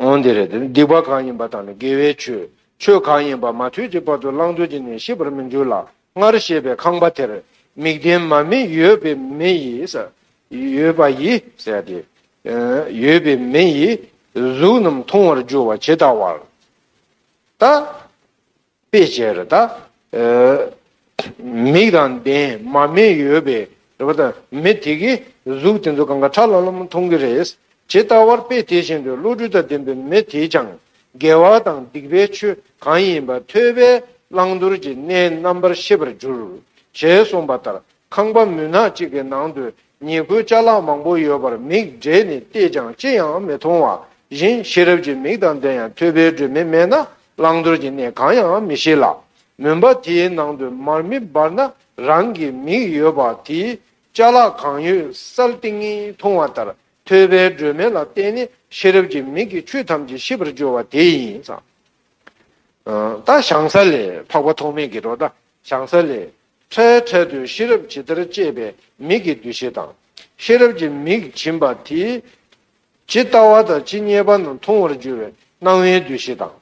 འོན་ཏེ་རེད་དེ། སྡིག་པ་གང་ཡིན་པ་དག་ནི་དགེ་བའི་ཆོས། ཆོས་གང་ཡིན་པ་མ་ཐོས་ཀྱི་བར་དུ་བླང་དོར་གྱི་གནས་ཤེས་པར་མི་འགྱུར་ལ། སྔར་བཤད་པའི་ཁང་པ་དེར། མིག་ལྡན་མ་མི་ཡོད་པའི་མི་ཡིས། ཡོད་པ་ཡིས། ཟད་དེ། ཡོད་པའི་མི་ཡིས། གཟུགས་རྣམས་མཐོང་བར་འགྱུར་བ་ཇི་ལྟ་བར། ལྟ། དཔེ་བྱད་རེ་དག། མིག་དང་ལྡན་མ་མེད་ཡོད་པའི་རེ་བ་དང་མི་དེ་གའི་གཟུགས་དེ་ཚོ་གང་ག་ཁྲ་ལམ་ལམ་མཐོང་གི་རེད། ཇི་ལྟ་བར་དཔེ་དེ་བཞིན་དུ་བློ་གྲོས་དང་ལྡན་པའི་མི་དེས་ཀྱང་དགེ་བ་དང་སྡིག་པའི་ཆོས་གང་ཡིན་པ་ཐོས་པས་བླང་དོར་གྱི་གནས་རྣམ་པར་ཤེས་པར་འགྱུར། ཞེས་གསུངས་པ་ལྟར་ཁང་པ་མུན་ནག་ཅིག་གི་ནང་དུ་ཉེས་བཀོད་བཅའ་ལག་མང་པོ་ཡོད་པར་མིག་བགྲད་ནས་བལྟས་ཀྱང་ཅི་ཡང་མི་མཐོང་བ་བཞིན་ཤེས་རབ་ཀྱི་མིག་དང་ལྡན་ཡང་ཐོས་པའི་སྒྲོན་མེ་མེད་ན་བླང་དོར་གྱི་གནས་གང་ཡང་མི་ཤེས་ལ། མུན་པ་དེའི་ནང་དུ་མར་མེ་སྦར་ན་རང་གི་མིག་ཡོད་པ་དེས་བཅའ་ལག་གང་ཡོད་གསལ་ཏིང་ངེ་མཐོང་བ་ལྟར་ཐོས་པའི་སྒྲོན་མེ་ལ་བརྟེན་ནས་ཤེས་རབ་ཀྱི་མིག་གིས་ཆོས་ཐམས་ཅད་ཤེས་པར་འགྱུར་བ་དེ་ཡིན། ད་བྱང་ས་ལས་འཕགས་པ་ཐོགས་མེད་ཀྱི་རོ་ད་བྱང་ས་ལས་ཁྲའི་ཁྲལ་དུ་ཤེས་རབ་ཇི་ལྟར་བསྐྱེད་པའི་མིག་གི་འདུ་བྱེད་དང། ཤེས་རབ་ཀྱི་མིག་བྱིན་པ་དེས་ཇི་ལྟ་བ་དང་ཇི་སྙེད་པ་རྣམས་མཐོང་བར་འགྱུར་བའི་སྣང་བའི་འདུ་བྱེད་དང།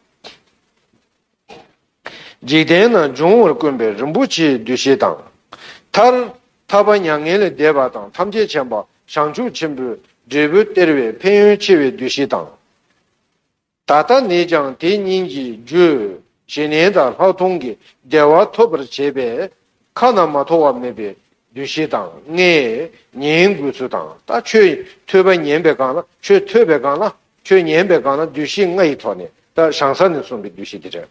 འཇིག་རྟེན་ན་འབྱུང་བར་དཀོན་པའི་རིན་པོ་ཆེའི་འདུ་བྱེད་དང། མཐར། ཐར་པ་མྱ་ངན་ལས་འདས་པ་དང་ཐམས་ཅད་མཁྱེན་པ་བྱང་ཆུབ་ཆེན་པོའི་འབྲས་བུ་སྟེར་བའི་ཕན་ཡོན་ཆེ་བའི་འདུ་བྱེད་དང། ད་ལྟ་ནས་ཀྱང་དེ་སྙིང་གི་རྒྱུས་ཞེ་ནན་དང་ལྷག་མཐོང་གི་བདེ་བ་ཐོབ་པར་བྱེད་པས་ཁ་ན་མ་ཐོ་བ་མེད་པའི་བདུད་བཞི་དང་ལྔས་ཉན་དགོས་ཚུལ་དང་ད་ཁྱོད་ཐོས་པ་ཉན་པའི་སྒང་ལ་ཁྱོད་ཐོས་པའི་སྒང་ལ་ཁྱོད་ཉན་པའི་སྒང་ལ་བདུད་བཞི་ལྔ་ཡི་ཐོག་ནས་ད་བྱང་ས་ནས་གསུངས་པའི་བདུད་བཞི་དེ་རེད།